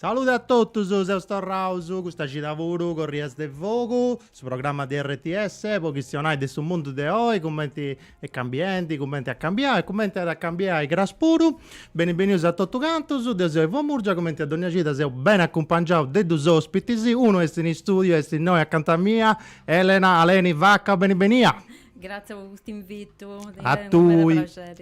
Salude a totus, seus torraus custa cida puru Corrias de Fogu, su programma de RTS po chistionai de su mundu de oi, cumenti est cambiendi, cumenti at cambiau e cumenti at a cambiai cras puru. Beni benius a totus cantus, deu seu Ivo Murgia, cumenti a dogna cida seu beni acumpangiau de dus ospitis, unu est in istudiu e est innoi acanta mia, Elena Aleni Vacca, beni benia. Gràtzias po cust'invitu, a tui,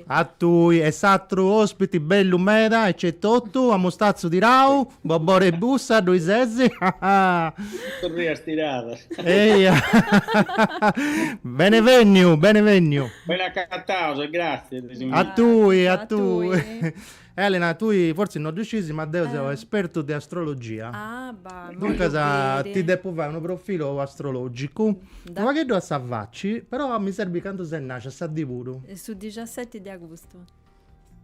a tui e s'atru ospiti bellu meda ca est totu a mustazzu tirau, Bobore Bussa ddoi sesi Torrias tirada Eia Beni beniu, beni beniu. Ben'acataus e gràtzias de s'invitu. A tui, a tui. Elena, tui fortzis no ddu sciis, ma deu seu espertu de astrologia. Ah, ba', immoi ollu biri. Duncas, ti depu fai unu profilu astrologicu. Unu pagheddu a sa faci, però mi serbit candu ses nascia, sa dì puru. Su dixasseti de agustu.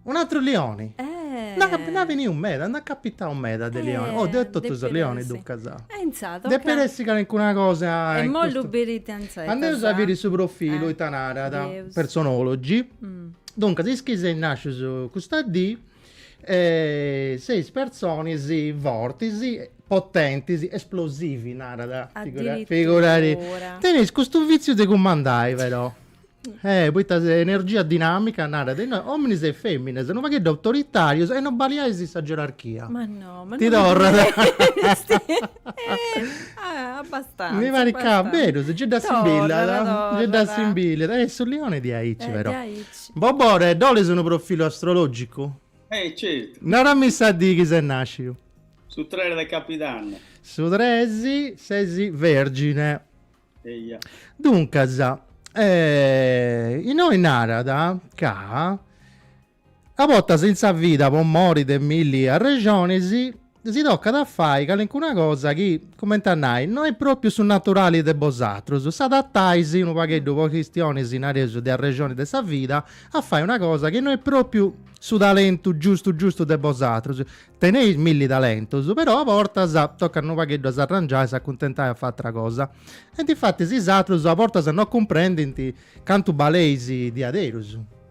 Un'atru lioni! Nd'at capi, nd'at beniu meda, nd'at capitau meda de lioni. Oh, deu totu sos lionis duncas. E intzà, tocat. Depit essi calincuna cosa in custu. Immoi ollu biri ita intzà, ita sa. Andeus a biri su profilu, ita narat. De su Personology. Duncas is chi seis nàscius custa dì seis personis fortis, potentis, esplosivi narat, figura·tì, teneis custu vitziu de cumandai però, poita s'energia dinamica, narat innoi, ominis e feminas, unu pagheddu autoritarius e no baliais sa gerarchia. Ma no, ma no. Ti torrat. Abbastanza. Mi pare ca vero, si giai assimbillat, giai assimbillat. E su lioni est aici però. Bobore, ddu 'olis unu profilu astrologicu? Eh, certu. Narami sa dì chi ses nasciu. Su tres de cabidanni. Su tres ses vergine. Eia. Duncas, innoi narat ca. A bortas in sa vida po mori de milli arrexonis si tocat a fai calincuna cosa chi, cumenti a nai, no est pròpiu su naturali de bosatrus, s'adatais unu pagheddu po chistionis, nareus, de arrexonis de sa vida, a fai una cosa chi no est pròpiu su talentu giustu giustu de bosatrus. Teneis milli talentus, però a bortas tocat unu pagheddu a s'arrangiai e s'acuntentai a fai atra cosa. E difatis is atrus a bortas no cumprendint cantu baleis diaderus.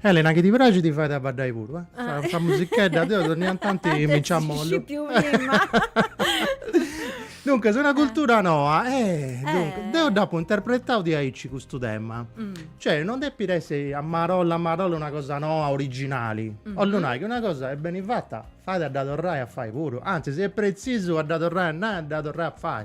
Elena chi ti pràxit fait a baddai puru eh. Sa, sa musichedda deu donnia tanti mi nci ammollu. Duncas una cultura noa eh, duncas, eh. deu dd'apu interpretau diaici custu tema. Mm. Cioè non depit essi a marolla a marolla una cosa noa originali. Mm. 'ollu nai, chi una cosa est beni fatta fait a dda torrai a fai puru, anzis est pretzisu a dda torrai a nai a dda torrai a fai.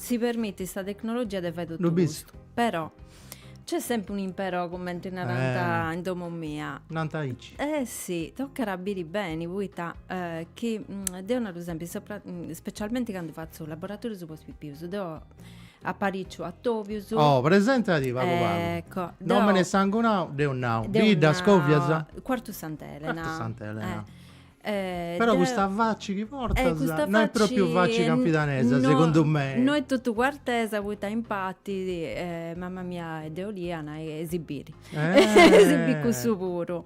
Si permitit sa tecnologia de fai totu custu. Però nc'est sempri unu imperò cumenti narant in domo mia. Nant aici. Eh si, tocat a biri beni poita chi deu naru sempri, specialmenti candu fatzu laboratorius po is pipius, deu apariciu atobius. Oh, presentadi pagu pagu. Ecco. Nomini e sangunau, deu nau. Bidda, scovias? Cuartu Sant'Elena. Cuartu Sant'Elena. Eh, Però deu- custa faci chi portas Eh, custa no est faci propriu faci eh, campidanesa, no- segundu mei. No est totu cuartesa poita impati eh, mama mia e de Uliana si biri. Eh. Si biri cussu puru.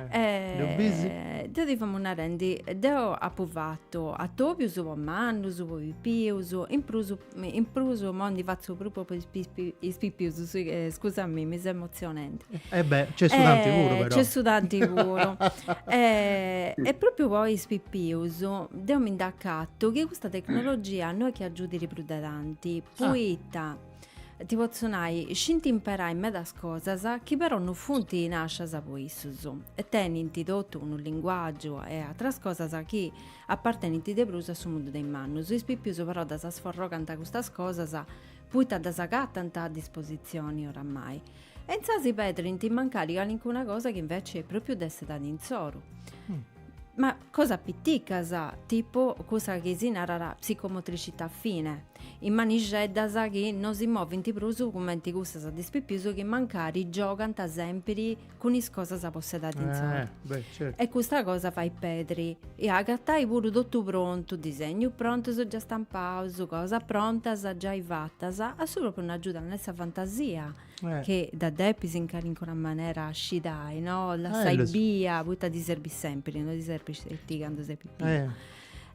Eh, Eh, ddu bisi? Deu ti famu narendi, deu apu fatu atobius po mannus, po pipius, in prus In prus immoi ndi fatzu prus po is pipius, scusamì, mi seu emotzionende. E beh, nc'est su tanti puru però. Nc'est su tanti puru. E propriu po is pipius deu mi nd'acatu chi custa tecnologia no est chi agiudiri prus de tanti, poita ti potzu nai, scint imperai medas cosas chi però no funt nascias po issus e tenint totu unu linguagiu e ateras cosas chi Apartenint de prus a su mundu de is mannus. Is pipius però ddas sforrogant custas cosas puita ddas agatant a dispositzioni oramai. E intzasi pedrint mancari calincuna cosa chi inveci propriu dd'est insoru. Ma cosas piticas, tipu cussa chi si narat psicomotricità fine, is manixeddas chi no si movint prus cumenti cussas de is pipius chi mancari giogant sèmpiri cun is cosas apetzadas in s'ortu. E custa cosa fait pedri. E agatai puru totu prontu, disegnus prontus già stampaus, cosas prontas giai fatas, a su propriu no agiudat sa fantasia, chi dda depis in calincuna manera ascidai, no, lassai bia, poita ti serbit sempiri, no ti serbit sceti candu ses pipiu.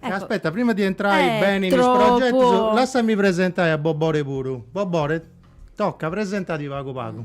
Aspetta, prima de intrai beni in is progetus, lassami presentai a Bobore puru. Bobore, toca, presentati pagu pagu.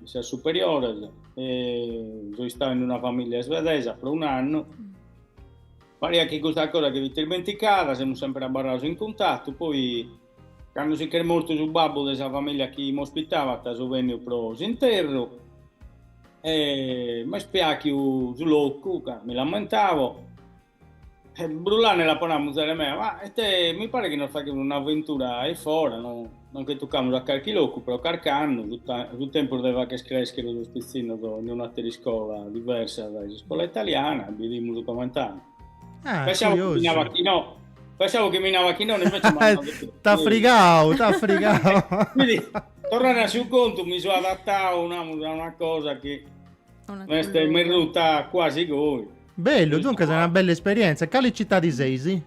in sas superiores e so istadu in una familia svedesa pro un'annu. Pariat chi custa cosa che fit ismenticada, semus sempre abarrados in cuntatu, poi cando si ch'est mortu su babbu de sa familia chi m'ospitabat so benniu pro s'interru e m'est piàghiu su locu ca mi l'ammentavo E brullande l'apo nau, muzere mea, ma ite ti paret chi nos faghimus un'aventura a fora, no no nche tucamus a carchi locu pro carc'annu, fut fut tempus de fagher crèschere sos pitzinnos in un'àtera iscola diversa dae s'iscola italiana e bidimus coment'andat. Ah, Pensavo chi mi curiosu. narat chi no, pensavo chi mi narat chi no, invece m'at nau de si. T'at frigadu, t'at frigadu. Quindi, torrende a su contu, mi so adatadu, namus, a una cosa chi m'est merruta cuasi goi. Bellu, duncas una bella esperièntzia. Cali citadi seis?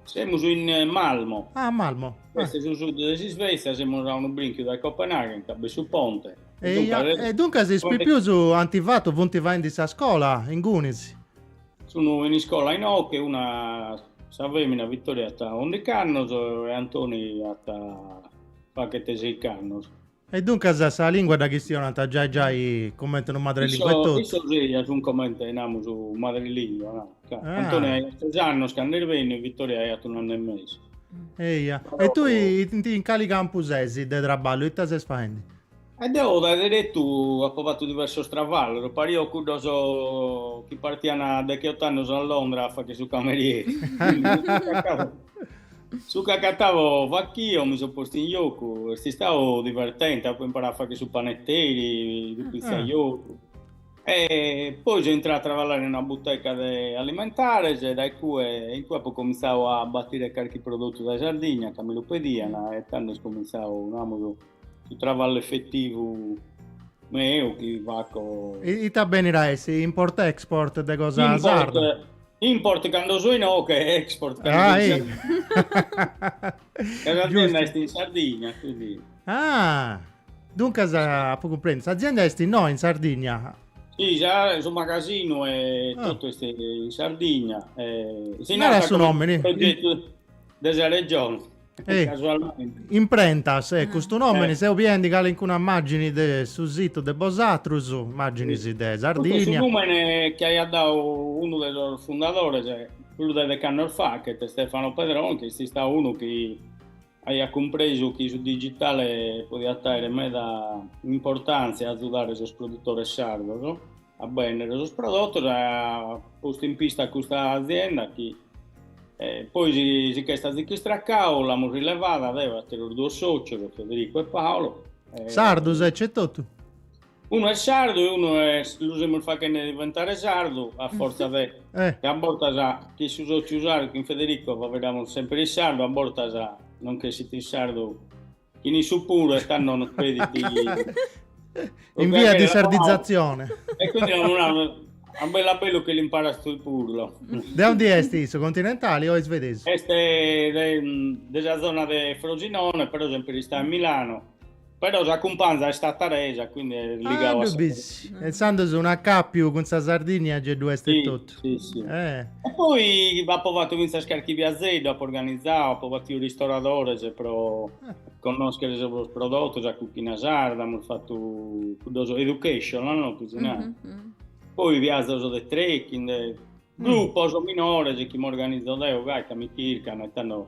Semus in Malmo. Ah, Malmo. Est su sud de s'Isvètzia, semus a unu brinchiu dae Copenaghen, ca b'est su ponte. Eia, e duncas is pipius ant fatu, funt faendi sa scola ingunis? Sun in iscola inoche, una, sa femina Vittoria at undic'annos e Antoni at faghet seich'annos. E duncas sa lìngua dda chistionant giai giai comente unu madrelìngua e totu. Issos eja sunt comente, namus, unu madrelìngua, no? Ca Antoni aiat tres annos cando est benniu e Vittoria aiat un'annu e mesu. Eja. E tui in in cali campu ses de traballu? Ita ses faendi? E deo dae deretu apo fatu diversos travallos, pario cuddos chi partiant decheot'annos a Londra a fagher su camerieri. Su chi acatavo fachio, mi so postu in giocu, est istau divertente, apo imparau a fagher su paneteri, su pizzaiolu, e poi so intrau a traballare in una buteca de alimentares e dae cue, in cue apo comintzau a batire carchi prodotu dae Sardigna ca mi lu pediant e tando est comintzau, namus su travallu effetivu meu chi faco ita benit a essi import export de cosa import, sarda import cando so inoche export cando ah, so in sardigna est in sardigna quindi ah duncas apo cumprèndiu s'azienda est in no in sardigna Sì, già, su magasinu e ah. totu est in Sardigna. Eh, si non era su nòmini, progetu de sa regione. E casualmente. Imprentas, e eh, custu nomini eh. seu biendi calincuna immagini de su situ de bosatrus, immagini sì. de Sardigna. Custu su numene chi aiat dau unu de sos fundadores prus de dec'annos fachet, Stefano Pedron, chi est istau unu chi aiat cumpresu chi su digitale podiat aere meda importantzia a azudare sos produtores sardos, a bènnere sos prodotos e at postu in pista a custa azienda chi poi si ch'est azicu istracau l'amus rilevada deo e àteros duos sòcios, Federico e Paolo. Sardos e totu? Unu est sardu e unu est, lu semus faghende diventare sardu a fortza de chi a bortas chin su sòciu sardu, chin Federico faveddamus semper in sardu, a bortas nos ch'essit in sardu Chin issu puru est a non credit. In via di sardizatzione. E quindi non hanno a bellu a bellu che l'imparat issu puru. De aundi est issu? Continentale o isvedesu? Est de, mm, de sa zona de Frosinone, però sempre istat in Milano. Però sa cumpanza est tataresa, quindi est ligau ah, a sa... E insandus un'acàpiu cun sa Sardigna, ge ddu est e totu. Sì, sì. Eh. E poi apo fatto finzas carchi viazzeddu, apo organizzau, apo battiu ristoradores pro eh. connoschere sos prodotos, a cuchina sarda, amus fattu cuddos educational, no? Cusinare. Mm -hmm. Mm. Poi viazzos de trekking, de mm. gruppos minores chi m'organizzo deo gai ca mi chircano e tando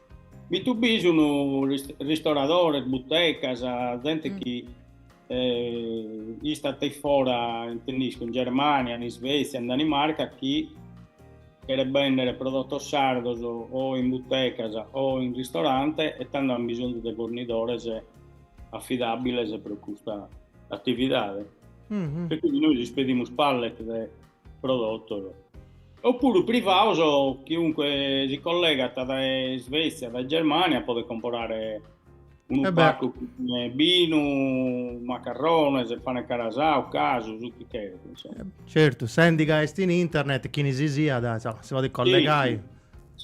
Bistu bi sun ristoradores, butecas, zente chi istat a fora, intendo in Germania, in Isvezia, in Danimarca, chi cheret bèndere prodotos sardos o in butecas o in ristorante e tando ant bisonzu de fornidores afidàbiles pro custa atividade. E quindi nois ispedimus pallet de prodottos, oppuru privados chiunque si collegant dae Svetzia, dae Germania, podet comporare unu paccu cun binu, macarrones, pane carasau, casu, su chi cheret, insomma. Certu, sendi ca est in internet, chini si siat, insomma, si podet collegai. Si, si.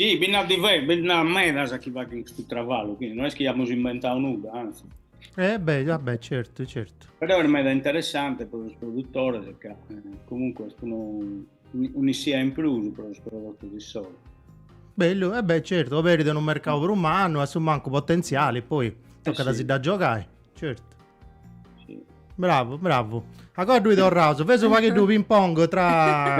Si, bi nd'at diversos, bi nd'at medas chi faghent custu traballu, quindi non est chi amus inventadu nudda, anzi. Eh beh, vabbè, ah certo, certo. Però è meda interessante pro sos produtores, ca eh, comunque est unu, un'issia in prus pro sos prodotos issoro. Bellu, eh beh, certo, oberit unu mercadu prus mannu, a su mancu potentziale, poi tocat a si dda giogai, certo. Bravu, bravu. Acoa ddui torraus? Feus unu pagheddu ping pong tra,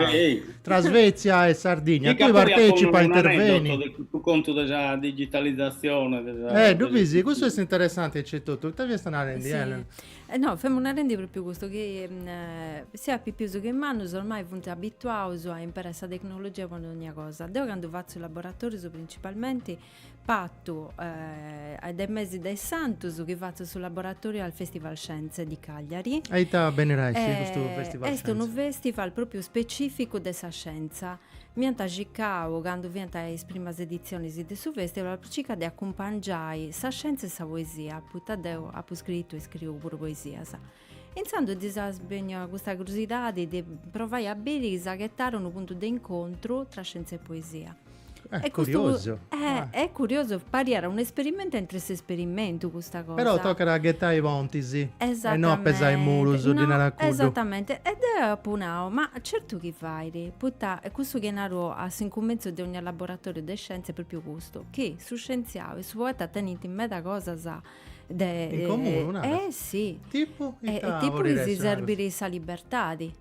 tra Svezia e Sardigna. Tui partecipa, interveni. Su contu de sa digitalizzazione. De sa, eh, difatis, custu est interessanti aici totu. Ita fiasta narendi, sì. Elena? Eh, no, femu narendi propriu custu, chi mm, eh, sia pipius che mannus ormai funt abituaus a imperai sa tecnologia po dogna cosa. Deu candu fatzu laboratorius principalmenti A partiri de mesi de is Santus chi fatzu su laboratoriu al Festival Scienze di Cagliari. A ita benit a essi custu Festival Scienze? Est unu festival propriu specificu de sa scienza. M'iant circau candu fiant is primas editzionis de su festival po circai de acumpangiai sa scienza e sa poesia, poita deu apu scritu e scriu puru poesias. Intzandus ddis est bènnia custa curiosidadi de provai a biri chi s'agatàt unu puntu de incontru tra scièntzia e poesia. E curiosu! E curiosu, pariat un'esperimentu aintre s'esperimentu custa cosa. Però tocat a ghetai pontis e no a pesai murus, ddi narat cuddu. Esatamenti. E deu apu nau, ma certu chi fait, poita est cussu chi naru a s'incumintzu de ogni laboratoriu de scièntzia, pròpriu custu, chi su scientziau e su poeta tenint meda cosas In comunu, naras? Eh si. Tipu? Ita tipu chi si serbit sa libertadi.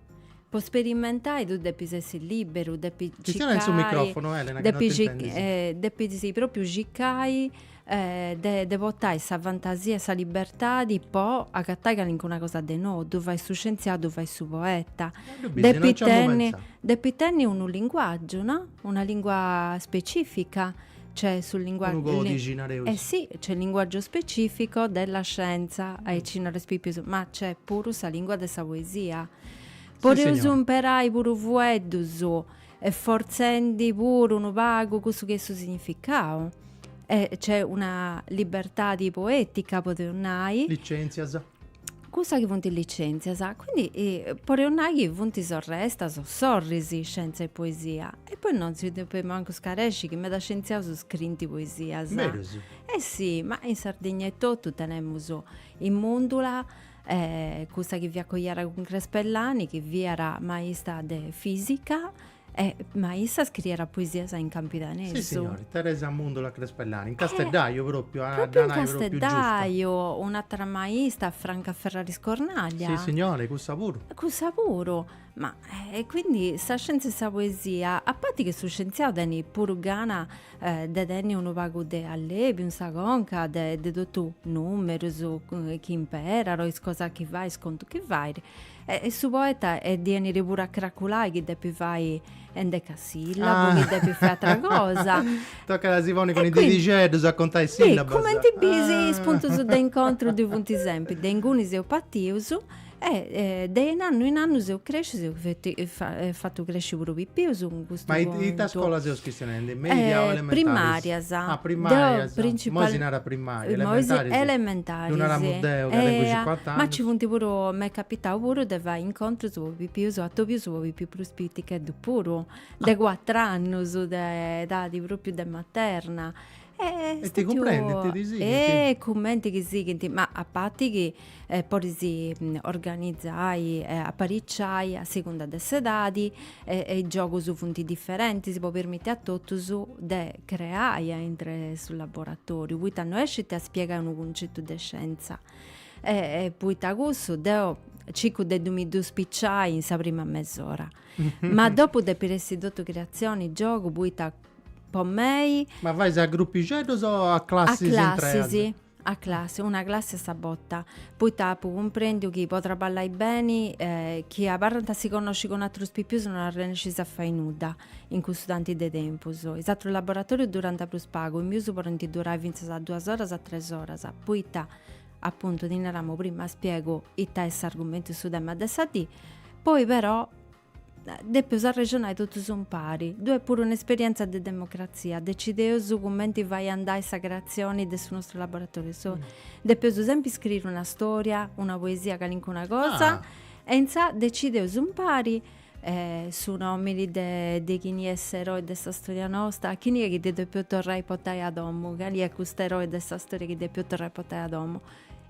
Po sperimentai tui depis essi liberu, depis circai. Chistiona in su microfonu Elena ca no t'intendint. Depis propriu circai de portai sa fantasia e sa libertadi po agatai calincuna cosa de nou, ddu fait su scientziau, ddu fait su poeta. Ddu bis, no nc'emu pentzau. Depit tenni unu linguaggiu, no? Una lingua specifica Nc'est su linguàgiu. Unu còdixi, nareus. E si, nc'est linguàgiu specifico della scienza, aici nareus a is pipius, ma nc'est puru sa lingua de sa poesia. Si, signora. Podeus imperai puru fueddus, fortzendi puru unu pagu cussu chi est su significau. E nc'est una libertadi poetica, podeus nai. Licèntzia. cussa chi funt is licèntzias, quindi podeus nai chi funt sorrestas o sorris scièntzia e poesia e poi non si depet mancu scaresci chi meda scientziaus scrint poesias. Medas. Eh si, ma in Sardigna etotu tenemus sa Mundula cussa chi fiat coiada cun Crespellani chi fiat maista de fisica Eh, ma issa scrierat poesias in campidanesu? Si, signori, Teresa Mundula Crespellani, in casteddaju propriu, a dda nai propriu giusta. Propriu in casteddaju, un'atera maista, Franca Ferraris Cornaglia. Si, signori, cussa puru. Cussa puru. Ma, e quindi, sa scienza e sa poesia, a parti chi su scienziau tenit puru gana de tenni unu pagu de allebiu in sa conca de de totu is numerus chi imperat, is cosas chi fait, is contus chi fait, E su poeta at a benni puru a craculai chi depit fai endecasillabu, chi depit fai atra cosa. Tocat a si ponni cun is didixeddus a contai sillabas. Cumenti bis is puntus de incontru ddoi funt sempri, de inguni seus partius e de in annu in annu seus crescius, eus fatu cresci puru pipius, Ma ita scola seus chistionendi? Media o elementaris? Primàrias. Ah, primàrias. Imoi si narat primària, elementaris. Elementaris. Ddu naramu deu ca tengu cincuant'annus. Ma nci funt puru, m'est capitau puru de fai incontrus po pipius atobius po pipius prus piticheddus puru, de cuatr'annus, de edadi pròpriu de materna. E ti cumprendent, ti sighint. E cumenti chi sighint, ma a parti chi podis organizai e apariciai a segunda de s'edadi e is giogus funt diferentis po permiti a totus de creai aintru su laboratoriu, poita no est sceti a spiegai unu cuncetu de scienza. E poita cussu deu circu de mi ddu spiciai in sa prima mes'ora. Ma dopu depit essi totu creatzioni, giogu, poita po mei. Ma fais a gruppixeddus o a classis intreas? A classis, a classis, una classi a sa borta, poita apu cumprendiu chi po traballai beni chi abarrant si connoscint cun atrus pipius non arrennescis a fai nudda in cussu tanti de tempus. Is atrus laboratorius durant prus pagu, is pipius podint durai fintzas a duas oras a tres oras, poita apuntu ti naramu prima spiegu ita est s'argumentu, su tema de sa dì, poi però Depeus arrexonai totus umpari. Ddu est puru un'esperientza de democratzia. Decideus cumenti fai andai sa creatzioni de su nostru laboratoriu. Depeus sempri scriri una storia, una poesia, calincuna cosa. E intzà decideus umpari su nomini de de chini est s'eroi de sa storia nosta, a chini est chi ddi depeus torrai a portai a domu, cali est cust'eroi de sa storia chi depeus torrai a portai a domu.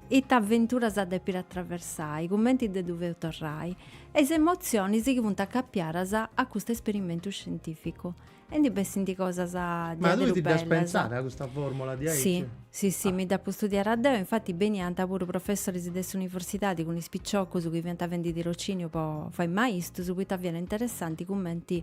Ita aventuras depit atraversai, cumenti de ddu feus torrai, e is emotzionis chi funt acapiadas a custu esperimentu scientificu. E ndi bessint cosas Ma tui ti dd'as pentzada a custa formula diaici? Si, si, si, mi dd'apu studiada deu, infati beniant puru professoris de s'universidadi cun is piciocus chi fiant fendi tirociniu po fai maistus poita fiat interessanti cumenti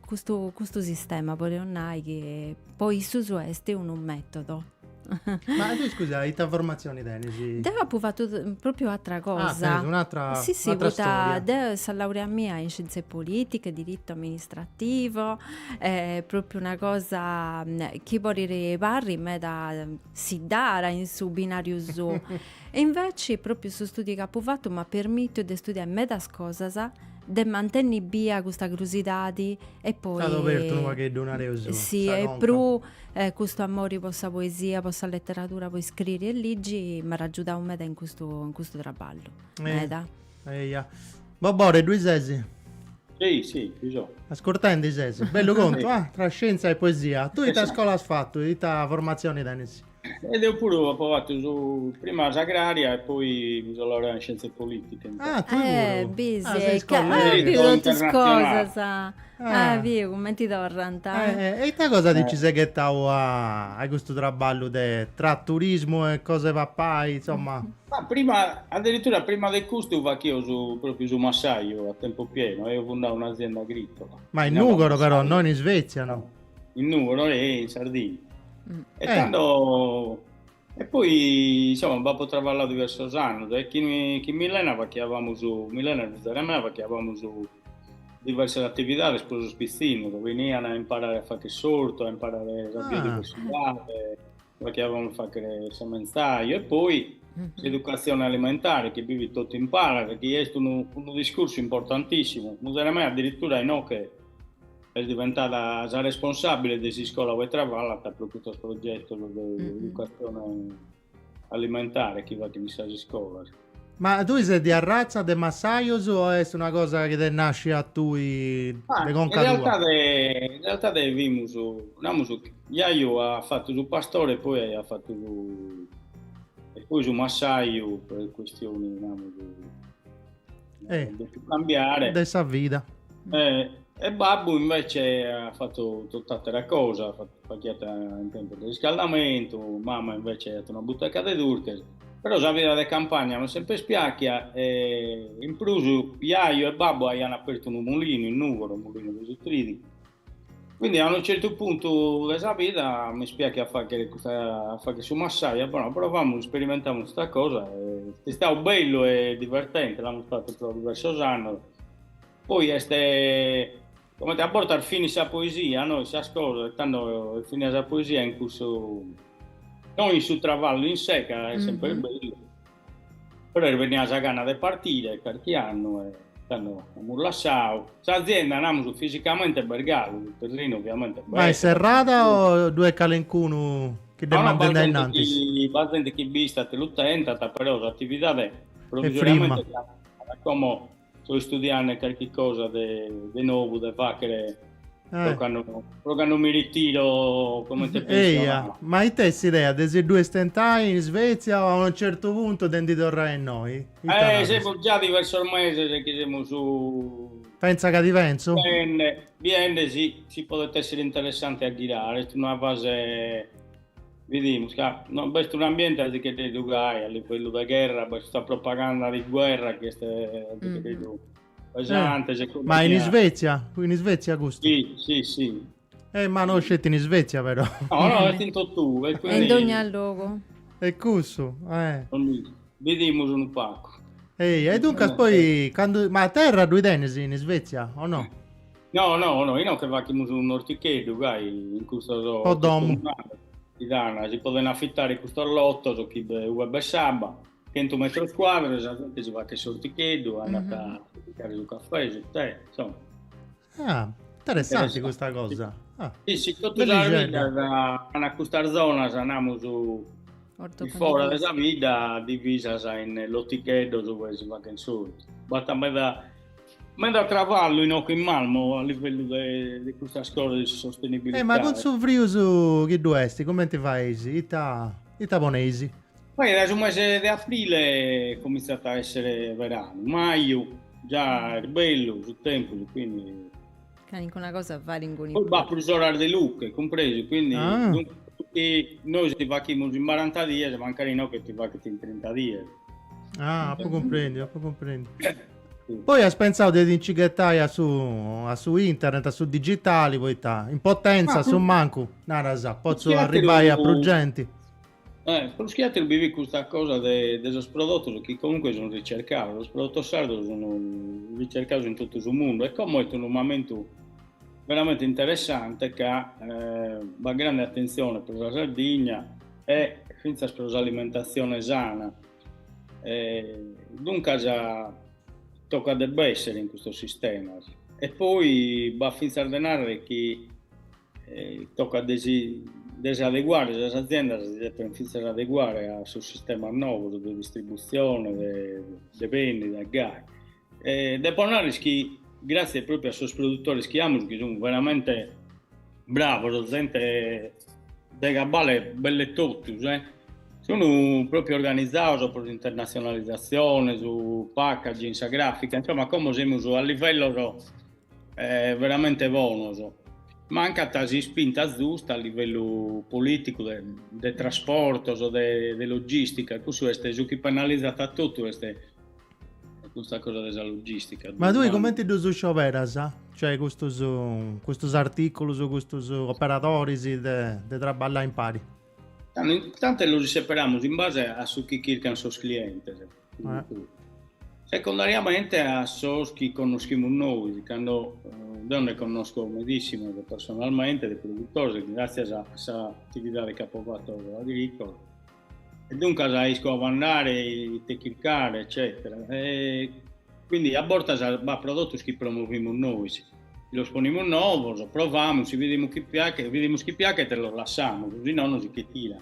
custu sistema, podeus nai, chi po issus est unu metodu Ma tu scusa, ita formatzioni tenis? Deu apu fatu pròpriu atra cosa. Ah, tenis un'atra storia. Sì, sì, poita deu sa laurea mia in scienze politiche, diritto amministrativo, est pròpriu una cosa chi podit parri meda siddara in su binariu suu. E inveci pròpriu su studiu chi apu fatu m'at permitiu de studiai medas cosas de mantenni bia custa crusidadi e poi T'at obertu unu pagheddu nareus sa conca. Si e puru custu amori po sa poesia, po sa letteradura, po iscriri e ligi m'at agiudau meda in custu in custu traballu. Meda. Eia. Bobore, ddui ses? Si, si, ddi so. Ascurtendi ses? Bellu contu, ah! Tra scienza e poesia. Tui ita scola as fatu? Ita formatzioni tenis? E deu puru apo fatu sa prima s'agraria e poi mi so laureau in scienze politiche. Ah, tue puru? Eh, bisi. Ah, seis collegas. Biri totu is cosas. Ah, biu cumenti torrant. E ita cosa ti nci ses ghetau a custu traballu de tra turismu e cosa 'e papai, insomma? Ma prima, addirittura prima de custu fachio su, propriu su massaju a tempo pieno, eus fundau un'azienda agricola. Ma in Nùgoro però, no in Isvètzia, no? in Nùgoro e in Sardigna. Mm. E eh. tando... E poi, insomma, b'apo travalladu diversos annos e chin, chin Milena fachiabamus, Milena e fizaria mea fachiabamus diversas atividades pro sos pitzinnos, benian a imparare a fagher s'ortu, a imparare sa via ah. de pessigare, Pro chi avon faghere sa mensa bio e poi s'educatzione alimentare chi bi fit totu in palas chi est unu unu discursu importantissimu, muzere mea addirittura inoche est diventada sa responsabile de s'iscola ue travallat pro custos progettos de educatzione alimentare chi faghent in sas iscolas. Ma tui ses de arratza de massajos o est una cosa chi t'est nàscia a tui de conca tua? Ma in realtade, in realtade fimus, namus, jaju at fatu su pastore e poi aiat fatu su, e poi su massaju per questioni, namus, de su cambiare. De sa vida. E babbu invece at fatu tot'àtera cosa, faghiat impiantos de riscaldamentu, mama invece aiat una buteca de durches, Però sa vida de campagna m'est semper piàchia e in prus jaju e babbu aiant apertu unu mulinu in Nùgoro, mulinu de su trìdicu, quindi a unu certu puntu de sa vida mi piachiat a fàghere custa, a fàghere su massaju, apo nau provamus, isperimentamus custa cosa e est istadu bellu e divertente, l'amus fatu pro diversos annos, poi est Comente a bortas finit sa poesia, no in sas cosas e tando est finida sa poesia in cussu, no in su travallu in sé ca est semper mm-hmm. bellu, però est bennida sa gana de partire carchi annu e tando amus lassau. S'azienda, namus, fisicamente b'est galu, su terrinu oviamente b'est. Ma est serrada o ddue est calencunu chi dd'est mandendi a innantis? B'at zente chi bi istat e lu tentat, però s'atividade provisoriamente est lassada, como so istudiande carchi cosa de de nobu de faghere Eh. pro cando pro cando mi ritiro comente Eia, pensionau. ma ite est s'idea de si ddue stentai in Isvetzia o a unu certu puntu de ndi torrai innoi? Ita Eh, naras? semus già diversos meses chi semus Pentza ca ti pentzu? biende biende si si podet èssere interessante a ghirare, est una fase Bidimus ca no b'est un'ambiente a si che dei dugai a livellu de gherra, b'est custa propaganda di guerra chi est mm. pesante. Eh, ma in Isvezia? In Isvezia custu? Sì, sì, sì. Eh, ma no sceti in Isvezia però. No, no, est in tottue. Quindi... in ogni logu. E custu, eh. Bidimus unu pacu. Ehi, e duncas poi, candu... ma terra ddui tenis in Isvezia o no? No, no, no, inoche fachimus un'orticheddu gai in custos po domu si dan, si poden affittare custos lottos chi de ue b'est s'abba, chentu metros cuadros e sa gente si faghet s'orticheddu, andat a piccare su caffè, su tè, insomma. Ah, interessante custa cosa. Ah. Sì, sì, totu sas biddas an custas zonas, namus, fora de sa bidda, divisas in loticheddos ue si faghen s'ortu. Basta meda Meda traballu inoche in Malmö a livellu de de custas cosas de sa sostenibilitade. Eh ma cun su frius chi ddu est cumenti fais? Ita ita poneis? Poi dae su mese de aprile comintzat a essere veranu, maju già est bellu su tempus quindi Calincuna cosa faende. B'at prus oras de luche, cumpresu, quindi ah. nois ti fachimus in baranta dies, mancari no che ti fachit in trinta dies. Ah, apo comprendi, apo comprendi. Poi has pensau de ti-nci ghetai a su, a su internet, a su digitali, poita in potenza, a su mancu, naras, potzu arribai a prus genti. Eh, prus chi ateru bi fit custa cosa de, de sos prodotos chi comunque sun ricercados, sos prodotos sardos sun ricercados in totu su mundu e como est unu mamentu veramente interessante ca eh, b'at grande atentzione pro sa Sardigna e fintzas pro s'alimentatzione sana. Eh, duncas tocat de b'essere in custos sistemas e poi b'at fintzas de narrer chi Tocat de si de si adeguare, sas aziendas si depent fintzas adeguare a sos sistemas novos de distributzione de de bendida, de gai. E depo narrer chi gratzias propriu a sos produtores chi amus chi sun veramente bravos, zente de cabbale belle totus e sun propriu organizados pro s'internatzionalizatzione, su packaging, sa grafica, insomma como semus a livellos eh, veramente bonos. Mancant sas ispintas zustas a livellu politicu de, de trasportos, de, de logistica, cussu est su chi penalizat a totu est custa cosa de sa logistica. Ma tui comenti ddus scioberas? Cioè custus, custus articulus, custus operadoris de, de traballai impari? Tando, tando los isseperamus in base a su chi chircant sos clientes. Eh. Secondariamente a sos chi connoschimus nois, ca eh, deo nde connosco medíssimos personalmente de produtores, gràtzias a sa atividade chi apo fatto agrícola, e duncas isco a ube andare, ite chircare, eccetera. E quindi a bortas b'at prodotos chi promovimus nois, chi los ponimus novos, provamus, si vidimus chi piachet, vidimus chi piachet e los lassamus, si nono si che tiran.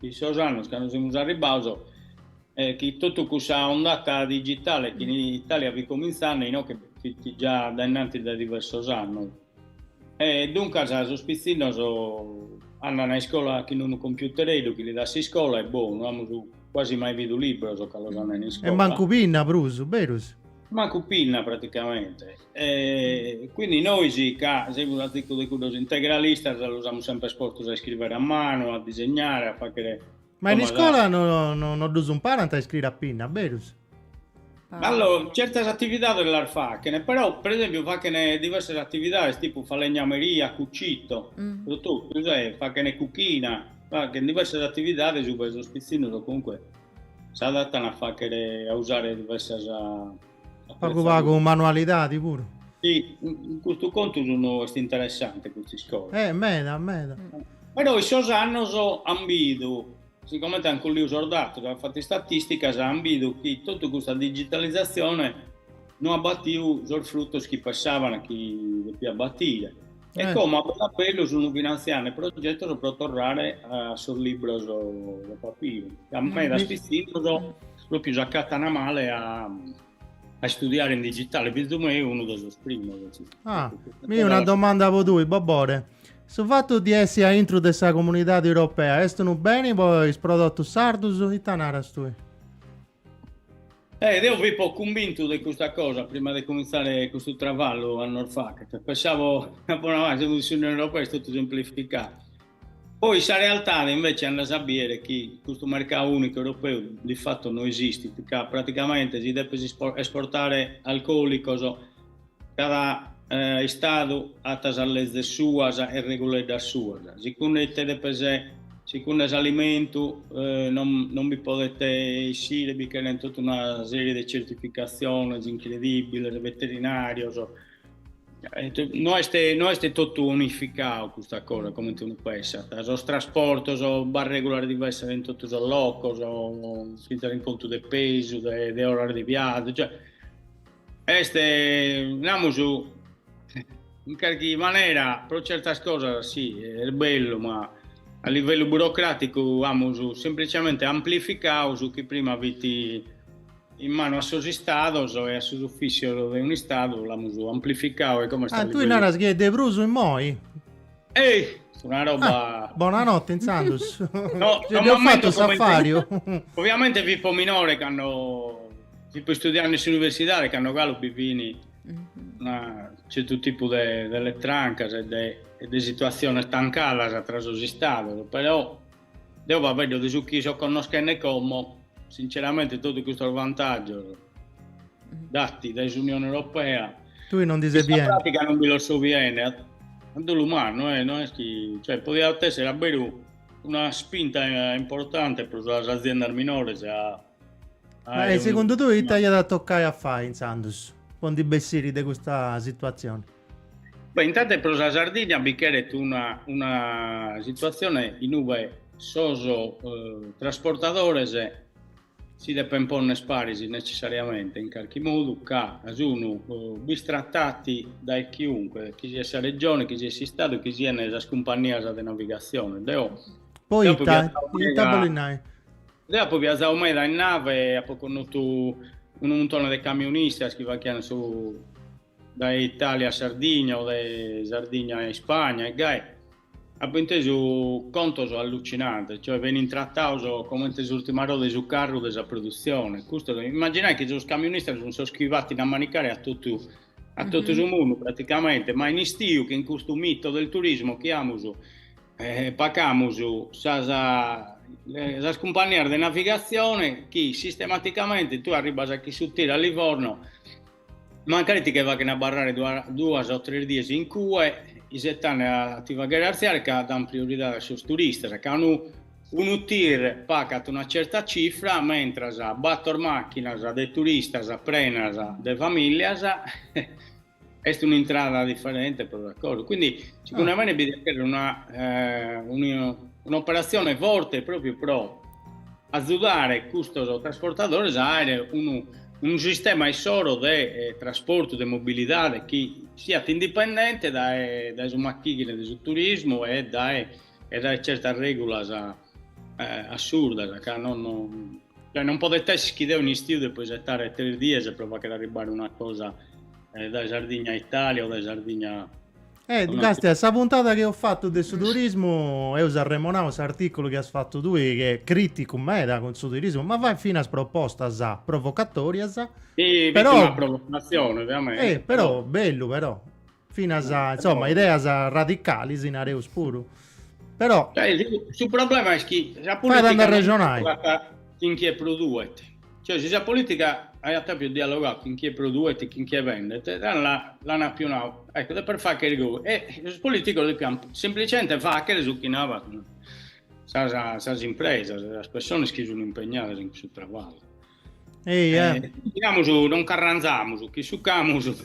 in sos annos ca nois semus arribbados e chi totu cussa ondata digitale chi in Italia fit comintzende inoche fit già dae innantis dae diversos annos e duncas sos pitzinnos andana a iscola chin unu computereddu chi li dat s'iscola e boh, no amus quasi mai bidu libros ca los an in iscola. E mancu pinna prus, berus? Mancu pinna praticamente. E quindi nois ca semus a ticu de cuddos integralistas los amus semper postos a iscrivere a manu, a disegnare, a fachere Ma in iscola no, no, no ddus imparant a iscriere a pinna, berus? Allora, certas atividades las fachene, però per esempiu fachene diversas atividades tipu falegnameria, cucito, pro totu, cioè fachene cuchina, fachene diversas atividades ue sos pitzinnos comunque s'adattan a faghere, a usare diversas Pagu pagu manualidadi puru. Sì, in custu contu sono, est interessante custa iscola. Eh, meda, meda. Però in sos annos an bidu, sigomente an colliu sos datos, an fattu istatisticas, an bidu chi totu custa digitalizatzione no at batiu sos fruttos chi pessaban chi depiat batire. E como a bellu a bellu sono finantziande progettos pro torrare a sos libros de papiru, ca medas pitzinnos Pròpiu s'acàtana male a a istudiare in digitale, fizu meu unu de sos primos. Ah, mi una domanda po tui, Bobore. Su fatu di essi a intru de sa Comunidade Europea est unu beni po is prodotus sardus? Ita naras tui? Eh, deo fipo cumbintu de custa cosa prima de comintzare custu travallu annos fachet. Pensavo, po nai, semus in s'Unione Europea est totu semplificau. Poi sa realtade invece andas a biere chi custu mercau unicu europeu di fatto no esistit ca praticamente si depes esportare alcoolicos cada istadu at sas lezes suas e reguleddas suas, sicunde ite depes, sicunde s'alimentu non bi podet essire, bi cheren totu una serie de certificatziones incredibiles, veterinarios No est, no est totu unificau custa cosa, comente unu pessat, sos trasportos b'at regulas diversas in totu sos locos, fintzas in contu de pesu, de oras de viazu, cioè est, namus, in carchi manera pro certas cosas si, est bellu, ma a livellu burocraticu amus semplicemente amplificau su chi prima fit in manu a sos Istados e a sos ufìssios de un'Istadu, l'amus amplificau e como est a Ah, tui naras chi est de prus immoi? Ehi! Est una roba... Ah, bonanotte intzandus! No, no m'ammento comente... Ses fatu s'affariu? Oviamente fipo minore cando fipo istudiande in s'universidade, cando galu bi fin unu certu tipu de de letrancas e de e de situatziones tancadas tra sos Istados, però Deo faeddo de su chi so connoschende como, sinceramente totu custos vantàgios datos dae s'Unione Europea, non, non bi los so biende, a dolu mannu, eh, no est chi, cioè, podiat èssere a beru una spinta importante pro sas aziendas minores. E segundu tui ite aiat a tocai a fai intzandus po ndi bessiri de custa situatzione? Beh, intanto pro sa Sardigna bi cheret una, una situatzione in ue sos eh, trasportadores si depen ponner paris necessariamente in carchi modu, ca sun bistratados dae chiunque, chi siat sa Regione, chi siat s'Istadu, chi sian sas cumpannias de navigatzione. Deo apo viazau meda in nave, apo connotu unu muntone de camionistas chi faghian su dae Italia a Sardigna o dae Sardigna a Ispagna e gai, apo intesu contos allucinantes, cioè benint tratados comente s'urtima roda 'e su carru de sa produtzione, custu est, imaginai chi sos camionistas sunt sos chi batint a manicare a totu a totu su mundu praticamente, ma in istiu chin custu mito del turismo chi amus pacamus a sas cumpannias de navigatzione chi sistematicamente tue arribbas chin su tir a Livorno Mancari ti che faghen abarrare duas o tres dies in cue, isetande a ti faghere artziare ca dan prioridade a sos turistas, ca unu unu tir pagat una certa cifra, mentras bator machinas de turistas prenas de familias est un'intrada differente pro una cosa, quindi segundu a mene bi diat cherrer una un'operatzione forte propriu pro azudare custos trasportadores a aere unu unu sistema issoro de trasportu, de mobilidade chi siat indipendente dae dae su machighine de su turismu e dae e dae certas regulas assurdas ca non cioè non podet esser chi deo in istiu depo isettare tres dies pro fagher arribbare una cosa dae Sardigna a Italia o dae Sardigna E càstia, in sa puntada chi eus fatu de su turismu eus arremonau s'articulu chi as fatu tui chi est criticu meda cun su turismu ma fait finas propostas provocatorias. Si fit una provocazioni teamenti. E però bellu però. Finas insoma ideas radicalis nareus puru. Però. Su problema est chi sa politica non est chi nch'est prus duet. Cioè, si sa politica aiat apiu dialogau chin chie produet e chin chie bendet, tando la, l'an apiu nau, ecco, depes fagher goi. E sos politicos depian semplicemente fagher su chi naran sas, sas impresas, sas pessones chi sun impegnadas in cussu traballu. Ehi, eh. Diamus, non carranzamus, chi sucamus.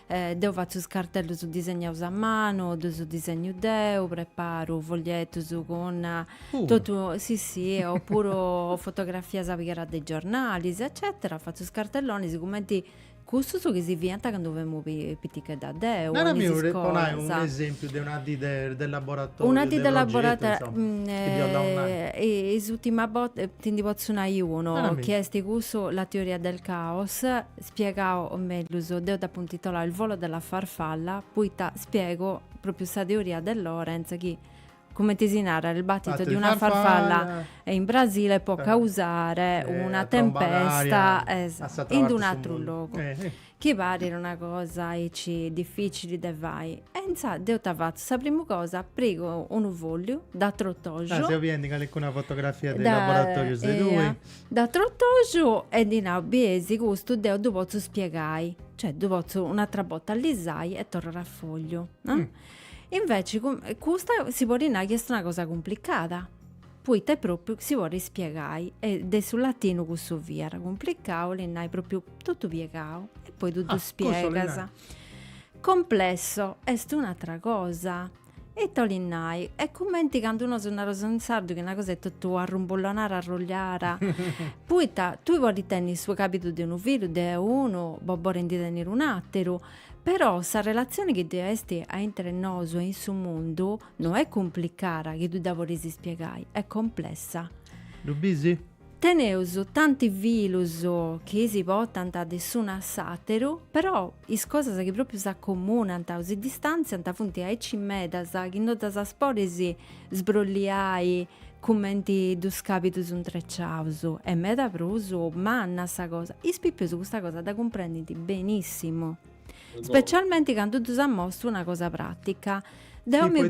Deu fatzu is cartellus disegnaus a manu, ddus disegnu deu, preparu foglietus cun totu, si si, o puru fotografias pigadas de giornalis eccetera, fatzu is cartellonis cumenti cussus chi si fiant candu femu pitichedda deu in is iscolas. Po nai unu esempiu de una dì de laboratoriu, una dì de laboratoriu, insoma, is ultimas bortas, ti ndi potzu nai unu, chi est cussu, la teoria del caos, spiegau mellus, deu dd'apu intitolau Il volo della farfalla, poita spiegu propriu sa teoria de Lorenz chi, cumenti si narat, il battito di una farfalla in Brasile può causare una tempesta in d' un'atru logu. Chi parit una cosa aici dificili de fai. E inzaras deu ita fatzu, sa primu cosa pigu unu fogliu, dd'atrotoju. Ah, seu biendu in calincuna fotografia de laboratorius de tui. Dd'atrotoju e ddis nau bie si custu deu ddu potzu spiegai, cioè ddu potzu un'atra bota allisai e torrat a fogliu, no? Inveci custa si podit nai chi est una cosa cumplicada, poita propriu si podit spiegai e de su latinu cussu fiat cumplicau, 'olit nai propriu totu piegau e poi tui ddu spiegas. Cussu 'olit nai. Complesso est un'atra cosa, Ita 'olit nai, est cumenti candu nosu naraus in sardu chi una cosa est totu arrumbullonara arrulliara, poita tui podis tenni su cabidu de unu filu, de unu, bo, podit ndi tenniri un'ateru, però sa relazioni chi ddi esti aintre nosu e in su mundu no est cumplicara chi tui dda podis spiegai, est complessa. Ddu bisi? Teneus tanti filus chi si potant de s'unu a s'àteru, però is cosas chi pròpiu s'acomunant o si distàntziant funt aici medas chi no ddas podis sbrolliai cumenti duus càbidus intreciaus. Est meda prus manna sa cosa, is pipius custa cosa dda cumprendint benissimu, specialmenti candu ddus amostu una cosa pràtica. Deu mi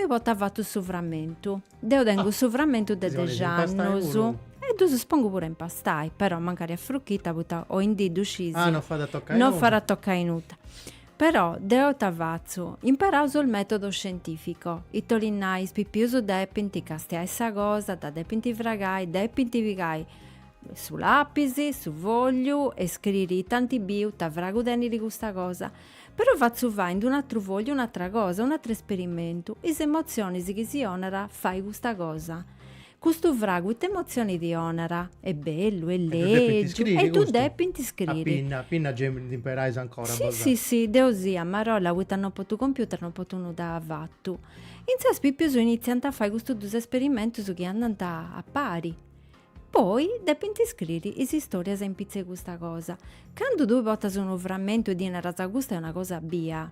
potu afatu su framentu. Deu tengu su frammentu de dexi annus e ddus pongu puru a impastai, però mancari a frucchita poita oindì ddu scis. Ah, non fait a toccai nudda. Non fait a toccai nudda. Però deu ita fatzu? Imparaus su metodo scientifico, ita 'olit nai, is pipius depint castiai sa cosa, dda depint fragai, depint pigai su lapis, su fogliu e scriri ita ant biu, ita fragu tenit custa cosa. Però fatzu fai in d'un'atru fogliu un'atra cosa, un'atru esperimentu, is emotzionis chi si 'onat a fai custa cosa. Custu fragu ita emotzioni ti 'onat? Est bellu, est lègiu, e ddu depint scriri. A pinna, a pinna gei nd'imperais ancora. Si, si, si, deu si, a marolla, poita no potu computer, no potu nudda afatu. Intzas is pipius initziant a fai custus dus esperimentus chi andant a pari. Poi depint iscriri is istorias in pitzus a custa cosa. Candu tui portas unu framentu e ddi naras custa est una cosa bia,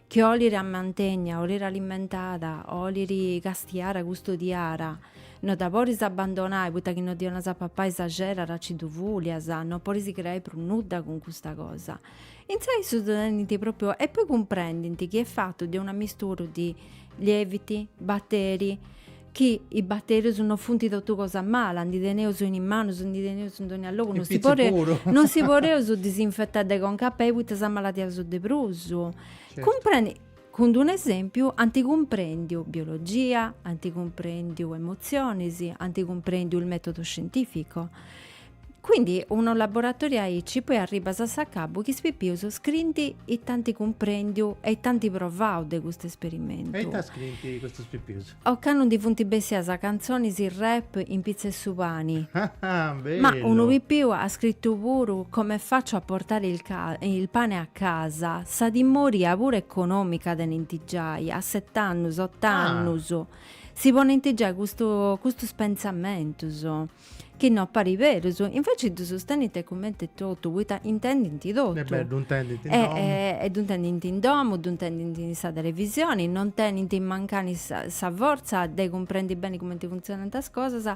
chi oliri mantènnia, oliri alimentada, oliri castiara, custodiara, no dda poris abbandonai poita chi no ddi 'onas a papai s'axedat e ci ddu fùlias, no poris creai prus nudda cun custa cosa. Intzai issus ddu tenint pròpriu, e poi cumprendint chi est fatu de un'ammisturu de lieviti, batteri, Chi is batterius no funt totu cosa mala, ndi teneus in is manus, ndi teneus in dogna logu, no si podeus, no si podeus disinfetai de conca a pei poita s'amaladiaus de prus. Cumprendint, cun d'unu esempiu, ant cumprendiu biologia, ant cumprendiu emotzionis, ant cumprendiu il metodo scientifico. Quindi unu laboratoriu aici poi arribas a s'acabu chi is pipius scrinti ita ant cumprendiu e ita ant provau de custu esperimentu. E ita scrinti custus pipius? Ocannu ndi funt bessias cantzonis rap in pitzu 'e su pani. Bellu! Ma unu pipiu at scritu puru come faccio a portare il ca il pane a casa, sa timoria puru economica tenint giai, a sett'annus, ott'annus, si ponint giai custu custus pensamentus. Chi no parit berus, inveci ddus tenint cumenti totu, poita intendint totu. Est berus, ddu intendint in domu. E ddu intendint in domu, ddu intendint in sa televisioni, non tenint mancani sa fortza de cumprendi beni cumenti funtzionant is cosas,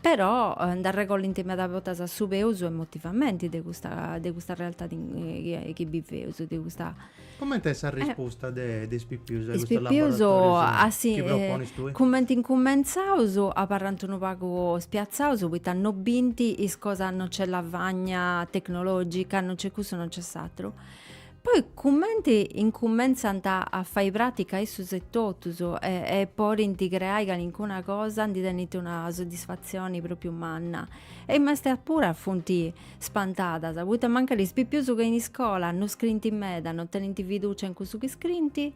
però nd'arregolint meda bortas su peus emotivamenti de custa de custa realtadi chi biveus, de custa Comente est sa rispusta de is pipius a custus laboratorius chi proponis tui? Cumenti incumentzaus abarrant unu pagu spiatzaus poita no bint is cosas, no nc'est lavagna tecnologica, no nc'est cussu, no nc'est s'aturu. Poi cumenti incumentzant a fai pratica issus etotus e podint creai calincuna cosa ndi tenint una soddisfatzioni propriu manna. E is maistas puru funt Spantadas, poita mancai is pipius che in iscola, no scrint meda, no tenint fiducia in cussu chi scrint,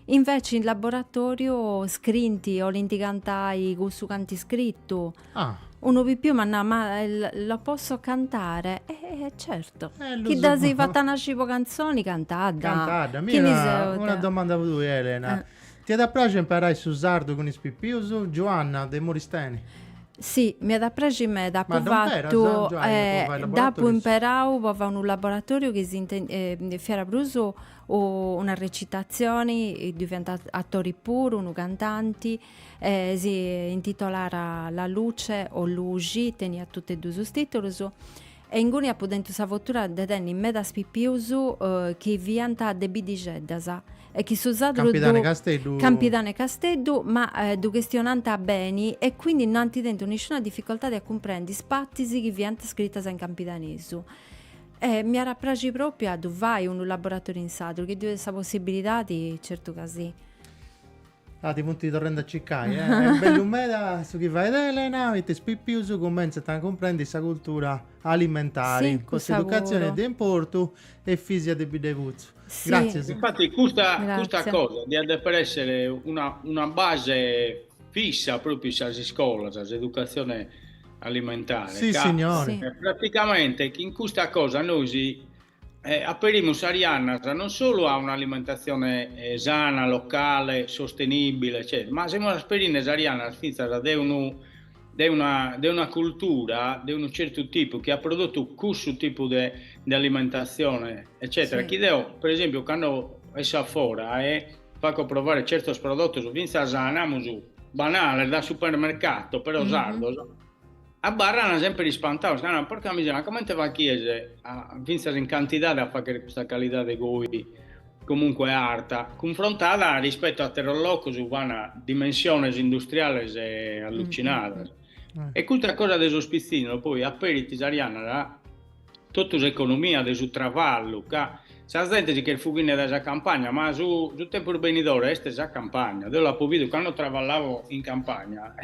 inveci in laboratoriu scrint, 'olint cantai cussu ch'ant iscritu. Ah. Unu pipiu m'at nau, ma lo posso cantare? E certo. Eh lu so. Chi dd'as fata nasci po cantzoni, cantadda. Cantadda, mi una domanda po tui Elena. Ti at a praxi imparai su sardu cun is pipius, Giuanna, de Muristeni? Si, mi at a praxi meda, apu fatu, dd'apu imperau po fai unu laboratoriu chi fiat prus una recitatzioni, ddu fiant atori puru, unu cantanti, si intitolàt La luce o luxi, teniat totu e duus is titulus, E inguni apu tentu sa fortuna de tenni medas pipius chi fiant de biddixeddas e chi su sadru ddu. Campidanu 'e Casteddu. Campidanu 'e Casteddu, ma ddu chistionant beni e quindi no ant tentu nisciuna difficoltadi a cumprendi is partis chi fiant scritas in campidanesu. E mi iat a praxi propriu a ddu fai unu laboratoriu in sadru, chi ddoi est sa possibilidadi, certu ca si. Ah, ti funt torrendi a circai, eh? Est bellu meda su chi fait Elena, poita is pipius cumentzant a cumprendi sa cultura alimentari. Si, cussa puru. S'educatzioni est de importu Efisia de Biddexutzu. Si. Gràtzias. Infati custa, custa Gràtzia. cosa diat deper esser una, una base fissa propriu in sas iscolas, s'educatzione alimentare, Si, sissignori. Si. praticamente chin custa cosa nois Eh, aperimus sas jannas non solu a un'alimentatzione eh, sana, locale, sostenìbile, eccetera, ma semus aperinde sas jannas fintzas de unu e de una de una cultura de unu certu tipu chi at prodotu cussu tipu de de alimentatzione, eccetera, Sì. chi deo, per esempiu, cando esso a fora e faco provare certos prodotos fintzas, namus, banales, da supermercato, però Mhm. sardos, Abarrana semper ispantaos ca narant, porca miseria, ma comente fachies a, fintzas in cantidade, a fagher custa calidade goi comunque arta, cunfrontada rispettu a atteros locos ue fan dimensiones industriales allucinadas. E custa cosa de sos pizzinnos poi aperit sas jannas a. Totu s'economia de su travallu, ca sa zente si ch'est fughinde dae sa campagna, ma su su tempus benidore est sa campagna. Deo l'apo bidu cando travallavo in campagna,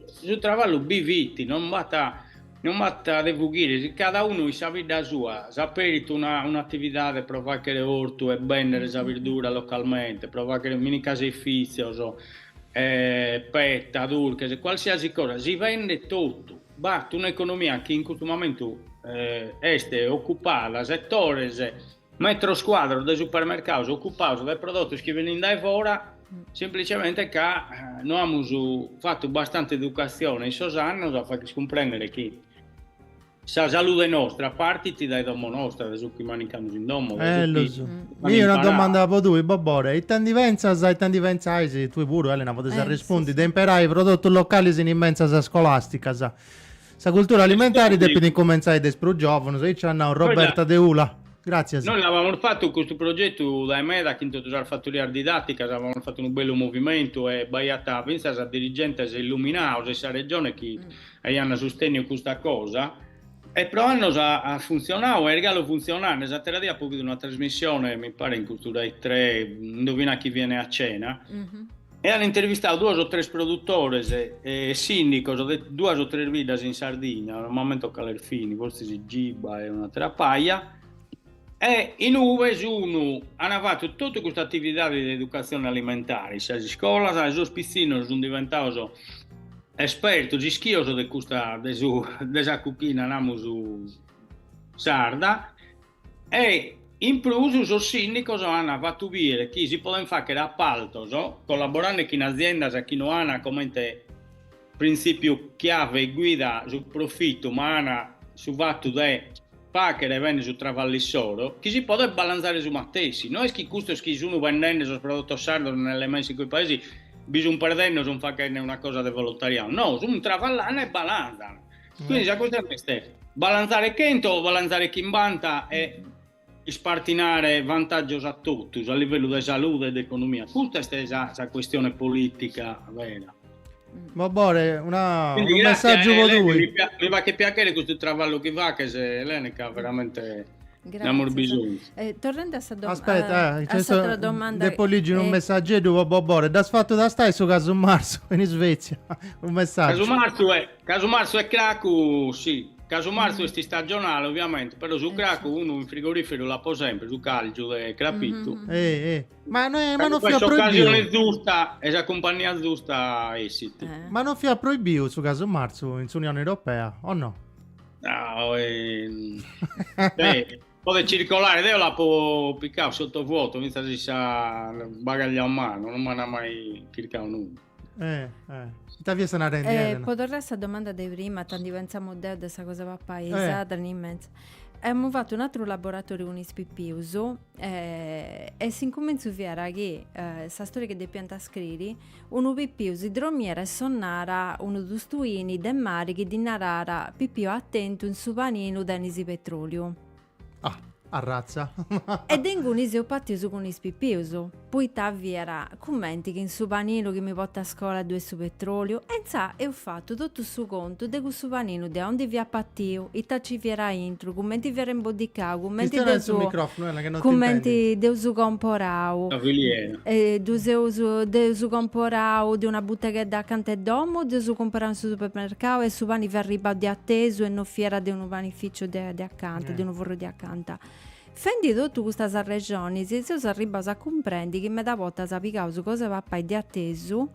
su travallu bi fit, non b'at non b'at de fughire, si cada unu in sa bidda sua s'aperit una un'atividade pro faghere ortu e bendere sa birdura localmente, pro faghere minicaseifìtzios, petta, turches, qualsiasi cosa, si bendet totu. B'at un'economia chi in custu momentu est ocupada dae etaros metros cuadros de supermercados ocupados dae prodotos chi benint dae fora, semplicemente ca no amus fatu bastante educatzione in sos annos a fagher cumprender chi sa salude nostra partit dae domo nostra, dae su chi manicamus in domo, dae su chi Ma mi' una domanda po tui Bobore, ita ndi pentzas, ita ndi pentzais, tui puru Elena podis arrespundi, de imperai prodotus localis in is mentzas scolasticas? Sa cultura alimentari depit incumentzai de is prus giovunus, aici at nau Roberta de Ula. Gràtzias. Nois l'avamus fatu custu progetu dae meda chin totus sas fattorias didàticas, avamus fatu unu bellu movimentu e b'aiat fintzas dirigentes illuminaus de sa Regione chi aiant sustènniu custa cosa, E pro annos at funtzionadu e est galu funtzionende, s'attera die apo bidu una trasmissione, mi paret, custu Rai tre, Indovina chi viene a cena, e an intervistadu duos o tres produtores e sindicos de duas o tres biddas in Sardigna, non m'ammento cales fin, forsis Giba e un'attera paja, E in ue s'unu ana fatu totu custa atividadi de educatzione alimentare in sas iscolas e sos pitzinnos sun diventados espertos, ischios de custa de su de sa cuchina namus sarda e in prus sos sindicos ana fatu bider chi si poden facher appaltos collaborande chin aziendas chi no ana comente Printzìpiu chiave e guida, su profitu, ma ana su fatu de fàghere bene su traballu issoro, chi si podet balantzare su matessi. No est chi custos chi sunt bendende sos prodotos sardos nelle mense in quei paesi bi sunt perdende o sunt faghende una cosa de volontariadu, no, sunt traballende e balantzant. Quindi sa custione est balantzare chentu o balantzare chimbanta e Ispartinare vantàgios a totus, a livellu de salude e de economia. Custa est sa, sa cuestione polìtica vera. Bobore, una, Quindi, unu grazie, messàgiu po Eleni, tui. Mi faghet piachere custu traballu chi faghes, Eleni, ca veramente... Nd'amus bisonzu. Eh, torrende a sa domanda... Aspetta, eh, a sa domanda... Depo ligi unu eh... messageddu po Bobore. Dd'as fatu tastai su casu marzu in Svezia? Un messaggiu. Casu marzu e... Casu marzu e cracu, si, casu marzu est istagionale oviamente, però su cracu unu in frigoriferu l'apo sempre, su càlgiu de crapitu. Ma non fiat proibiu. Ca in s'ocasioni zusta e sa cumpannia zusta essit. Ma non fiat proibiu su casu marzu in s'Unioni Europea, o no? Podet circolare, deo l'apo picau sottovuoto fintzas in su bagagliu a manu, non m'ant mai chircau nudda. Eh, eh. Ita fiat narende, eh, Elena? Po torrai a sa domanda de prima, tandi pentzamus de aundi sa cosa papaisada, eh. immensa. Amus fatu un atru laboratoriu cun is pipius eh, e s'incumintzu fiat chi eh, sa storia chi depiant scriri, unu pipiu si dromiat e sonnàt unu tustuini de mari chi ddi naràt pipiu atentu in su paninu tenis petroliu. Ah, arratza! E de ingunis eus partius cun is pipius, poita fiat cumenti chi in su paninu chi mi portu a scola ddu 'e su petròliu, e intzà eus fatu totu su contu de cussu paninu de aundi fiat partiu, ita nci fiat aintru, cumenti fiat imboddicau, cumenti dd'eus cumenti dd'eus comporau, si dd'eus comporau de una buteghedda acanta 'e domu, dd'eus cumporau in su supermercau e su pani fiat arribau de atesu e non fiat de unu panificiu de furrunedda de acanta, eh. de unu furru de acanta. Fendi totu custus arrexonis, seus arribbaus a cumprendi chi meda bortas pigaus cosa 'e papai de atesu,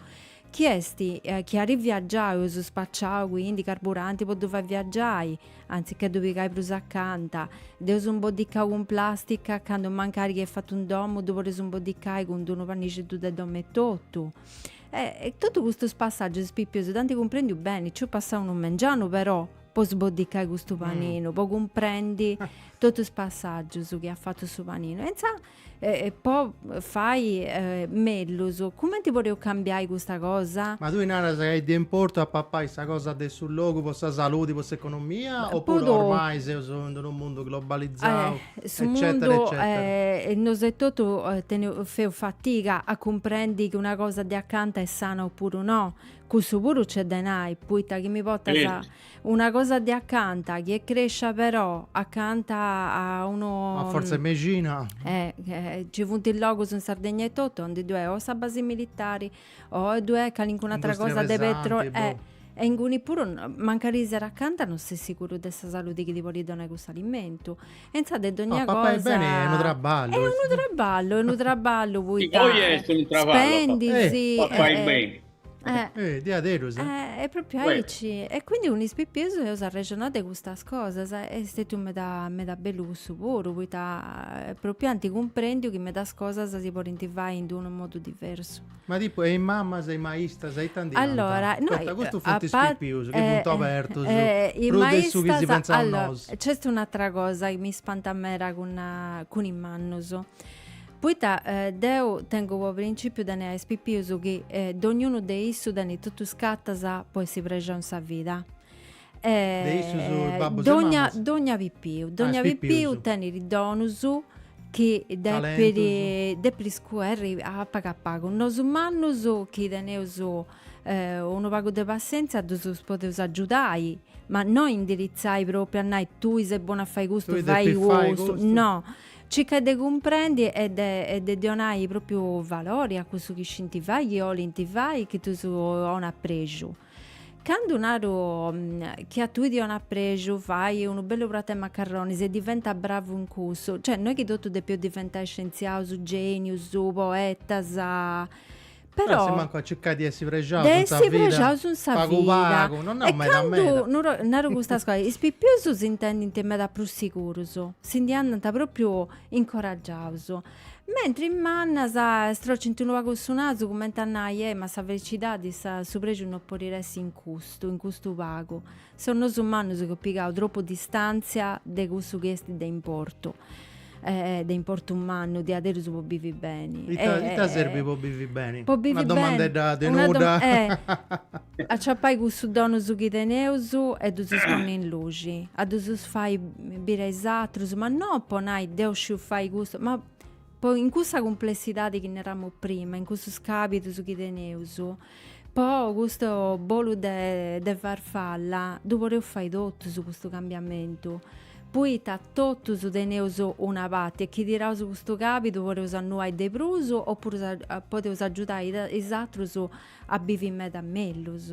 chi est eh, chi at viaggiau, eus spaciau quindi carburanti po ddu fai viaggiai, anzichè ddu pigai prus acanta, dd'eus imboddicau cun plastica, candu mancari chi est fatu in domu ddu podeus imboddiai cun d-unu pannixeddu de domu etotu. E, e totu custus passaggius is pipius dd'ant cumprendiu beni, nci eus passau unu mengianu però, po sboddiccai custu paninu, po cumprendi totu is passaggius chi at fatu su paninu e intzà e po fai mellus cumenti podeus cambiai custa cosa? Ma tui naras ca est de importu a papai sa cosa de su logu po sa saludi, po s'economia o po ormai seus in unu mundu globalizau eccetera eccetera. Nosu etotu feus fatiga a cumprendi chi una cosa de acanta est sana opuru no, Cussu puru nc'est de nai, puita chi mi portas una cosa de acanta chi est crescia però acanta a unu. A fortza 'e mexina. Ci funt is logus in Sardegna etotu aunde ddoi est o sa basi militari o ddoi est calincuna atra cosa de petroli. E inguni puru mancari siat acanta non ses siguru de sa saludi chi ti podit donai cussu alimentu. E inzaras de dogna cosa. Papai beni est unu traballu. Est unu traballu, est unu traballu, poita. Poi est unu traballu. Spendis. Papai beni. Eh, eh diaderus. Eh, eh è proprio aici. E quindi cun is pipius eus arrexonau de custas cosas. Est stetiu meda, meda bellu cussu puru, poita eh, proprio anti cumprendiu chi medas cosas si podint fai in unu modu diversu. Ma tipo, e is mamas, e is maistas, e i tanti Allora, no, Totta, custus funt is pipius, chi funt abertus, eh, eh prus de su chi si pensaus nosu. C'est un'atra cosa chi mi spantat meda cun, cun is mannus. Poita deu tengu po principiu de nai a is pipius chi dognunu de issus tenit totu is cartas po essi prexau in sa vida. De issus babbus e mamas? Dogna pipiu, dogna pipiu tenit donus chi depit depit iscoberri a pagu a pagu. Nosu mannus chi teneus unu pagu de passenzia ddus podeus agiudai, ma no indiritzai propriu a nai tui ses bonu a fai custu, fai custu, no. Circa de cumprendi e de de donai propriu valori a cussu chi scinti fai, chi olint fai, chi ddus donat prexu. Candu naru chi a tui ti donat prexu fai unu bellu pratu 'e macarronis e diventa bravu in cussu, cioè no est chi totus depeus diventai scientziaus, genius, poetas, Però assumancu a circai de essi prexaus in sa vida. De essi prexaus in sa vida. Pagu pagu, non nau meda meda. E candu naru custas cosas, is pipius s'intendint meda prus sigurus, si ndi andant propriu incoraggiaus. Mentri is mannus strocint unu pagu su nasu cumenti a nai, eh ma sa felicidadi, su prexu non podit essi in custu, in custu pagu. Seus nosu mannus chi eus pigau tropu distàntzia de cussu chi est de importu, de importu mannu, diaderus po bivi beni. Ita serbit po bivi beni? Una domandedda tenuta. Aciapai cussus donus chi teneus e ddus ponni in luci, a ddus fai biri a is atrus, ma no po nai deu sciu fai custu, ma In cussa cumplessidade chi naramus prima, in cussus cabidus chi teneus, po custu bolu de de farfalla ddu podeus fai totus custu cambiamentu, poita totus teneus una parti e chi tiraus custu cabidu podeus annuai de prus o puru podeus agiudai is atrus a bivi meda mellus.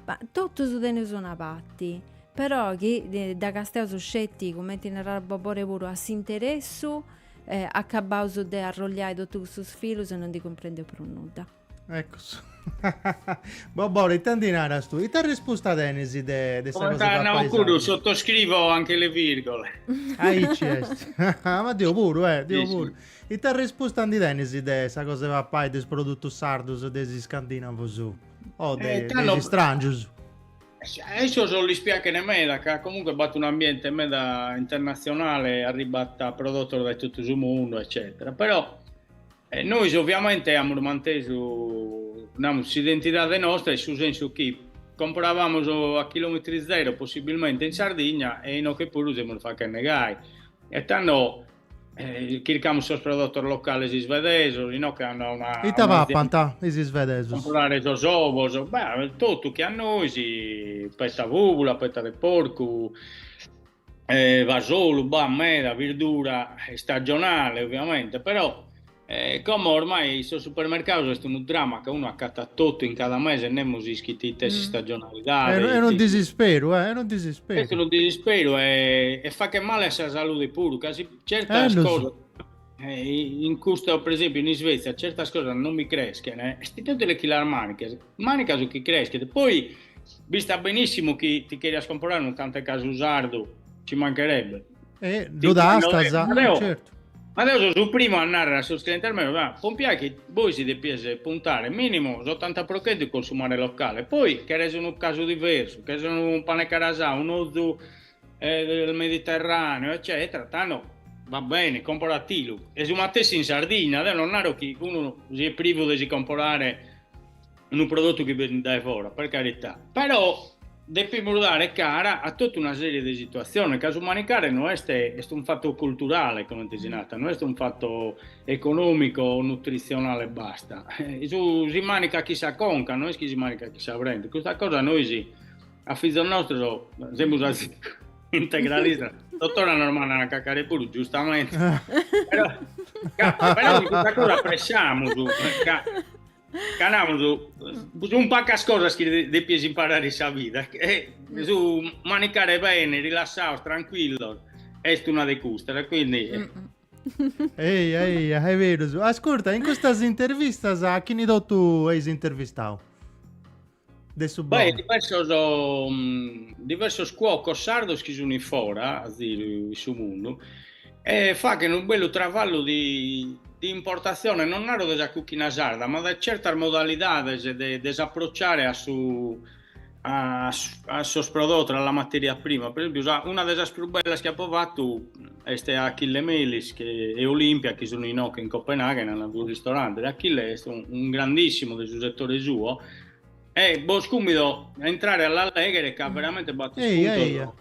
Ma totus teneus una parti, però chi dda castiaus sceti cumenti narat Bobore puru a s'interessu E acabaus de arrolliai totu cussus filus e no ndi cumprendeus prus nudda. Eccus. Bobore ita ndi naras tui? Ita arrespusta tenis de de sa cosa de papai. Sottoscrivo anche le virgole. Aici est. Ma deu puru eh, deu puru. Ita arrespusta ndi tenis de sa cosa de papai de is produtus sardus de is iscandinavus o de is strangius? A issos lis piaghet meda ca comunque b'at un'ambiente meda internatzionale, arribat prodotos dae totu su mundu eccetera, però nois ovviamente amus mantesu, namus, s'identidade nostra in su sensu chi comporaiamus a chilometri zero possibilmente in Sardigna e inoghe puru semus fachende gai e tando Eh, chircamus sos prodotos locales isvedesos, inoghe che hanno una... Ita papant is isvedesos? Comprare sos ovos, beh, totu che a nois, petta bùbula, petta de porcu, eh, fasolu, bah, meda, birdura istagionale, ovviamente, però... E como ormai sos supermercados est unu drama ca unu accattat totu in cada mese e nemus ischit ite est s'istagionalidade. Est unu disisperu, est unu disisperu. Est unu disisperu e faghet male a sa salude puru ca si certas cosas in custa, pre esempiu in Isvezia, certas cosas non bi creschen, est inutile chi las mànicas, mànica su chi creschet. Poi b'istat benissimu chi ti cherias comporare unu cant'e casu sardu, ci mancherebbe. E ddu tastas, certu. Ma deu so su primu a narrere a sos clientes meus, ah, pompiai chi bois si depies puntare minimu s'ottanta pro chentu in consumare locale, poi cheres unu casu diversu, cheres unu pane carasau, un ozu del Mediterraneo, eccetera, tando va bene, comporatilu. E su matessi in Sardigna, deu non naro chi unu siat privu de si comporare unu prodotu chi benit dae fora, per carità, però depimus dare cara a totu una serie de situatziones, ca su manicare no est, est unu fatu culturale, comente si narat, no est unu fatu econòmicu o nutritzionale e basta, si manicat chin sa conca, no est chi si manicat chin sa brente, custa cosa nois a fizos nostros semus integralistas, totora nos mandant a cacare puru, giustamente, però però custa cosa appressamus ca Ca namus, sunt pacas cosas chi depies imparare in sa vida, e su manicare bene, rilassados, tranquillos, est una de custas, quindi... Mm -mm. Eja, eja, est berus. Ascurta, in custas intervistas a chini totu as intervistau? de su Beh, bon. diversos, um, diversos cuocos sardos chi sunt in fora, a ziru, in su mundu, e faghen unu bellu travallu di, di importatzione, non naro de sa cuchina sarda, ma de certas modalidades de, de s'approcciare a su, a, a sos prodotos, a la materia prima. Per esempiu, sa, una de sas prus bellas chi apo fatu Est a Achille Melis e Olimpia chi sun inoche in Copenaghen an unu ristorante de Achille est unu grandissimu de su setore suo e bos cummido a intrare a la leghere ca veramente b'at ispuntos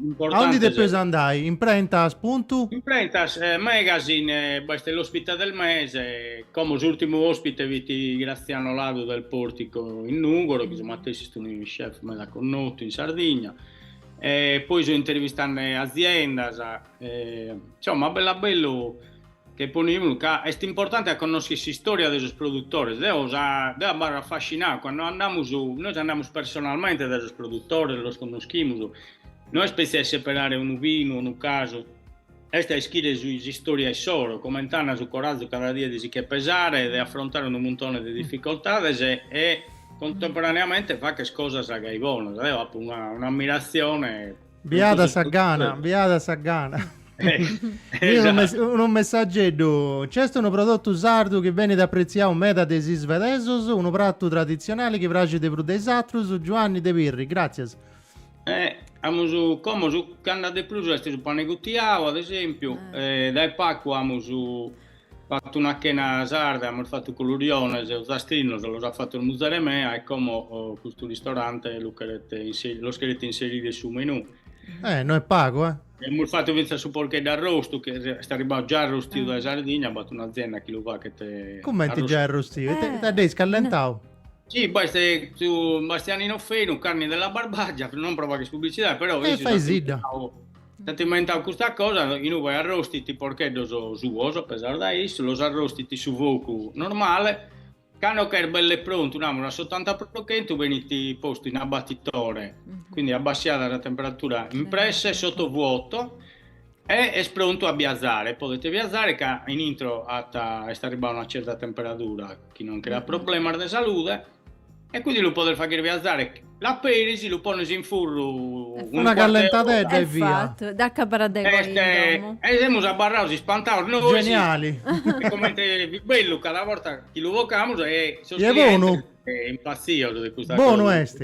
importantes. Aundi depeus andai? Imprentas puntu? Imprentas Magazine b'est l'ospite del mese, como s'urtimu ospite fit Graziano Ladu del Portico in Nugoro chi su matessi est unu chef meda connotu in Sardigna e poi so intervistande aziendas e insomma a bellu a bellu che ponimus ca est importante a connoscher s'istoria de sos produtores deo sa deo abarro affascinau cando andamus nois andamus personalmente dae sos produtores los connoschimus no est petzi a seperare unu vinu o unu casu Est a ischire s'istoria issoro, comente ana su corazu cada die de si che pesare e de afrontare unu muntone de difficoltades e contemporaneamente facher cosas gai bonas. Deo apo una una ammirazione Biada sa gana, biada sa gana. unu messageddu, nc'est unu prodotu sardu chi benit apretziau meda de is isvedesos, unu pratu traditzionali chi praxit de prus de is atrus, Giuanni de Pirri, gràtzias. E amus como su chi andat de prus est su pane gutiau ad esempiu, dae pagu amus fatu una chena sarda, amus fatu culuriones ozastrinos los at fatos muzere mea e como custu ristorante lu cheret inserire, los cheret inserire in su menù. Eh, no est pagu, eh! E amus fatu fintzas su porcheddu arrostu chi est arribau già arrostiu dae Sardigna, b'at un'azienda chi lu faghet arrostiu. Cumenti già arrostiu? Ita dd'eis callentau? Sì, poi se su Bastianino Fenu, Carni della Barbagia, non pro faghere pubblicità, però eh, fai sidda. S'at inventadu custa cosa, inue poi arrostit porcheddos suos, pesados da issu, los arrostit in su focu normale, cando ch'est belle prontu, namus a s'otanta pro chentu, benit postu in abbattitore, quindi abbassiada sa temperatura in presse, sottovuoto, E est prontu a biazare, podet biazare ca in intro at, est arribada una certa temperadura chi non creat problemas de salude e quindi lu podes fagher biazare, l'aperis, lu pones in furru una callentadedda e via. E semus abarrados ispantados nois, geniali, comente fit bellu cada borta chi lu bocamus e sos clientes impazzidos de custa cosa, bonu est.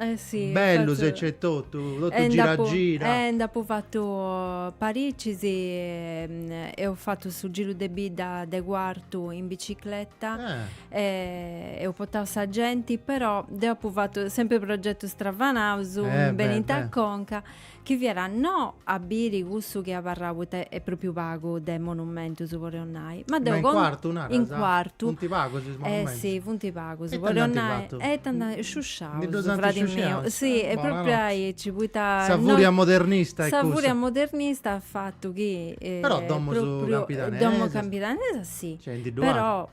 Eh si, bellus, e nc'est totu, totu gira gira. Eh nd'apu fatu paricis, eus fatu su giru de bidda de Cuartu in bicicleta e eus portau sa genti, però deu apu fatu sempri progetus stravanaus, benint a conca Chi fiat no a biri cussu chi est abarrau poita est propriu pagu de monumentus podeus nai. Ma deu. Ma in Cuartu naras? In Cuartu. Funt pagus is monumentus? Eh si funt pagus. E ita nd'ant fatu? E ita nd'ant fatu? Sciusciaus. Ndi ddus ant sciusciaus? Si e propriu aici poita. Sa furia modernista est cussa. Sa furia modernista at fatu chi. Però domus campidanesas. Domus campidanesas si. Nc'est ndi dd'unu ateru. Però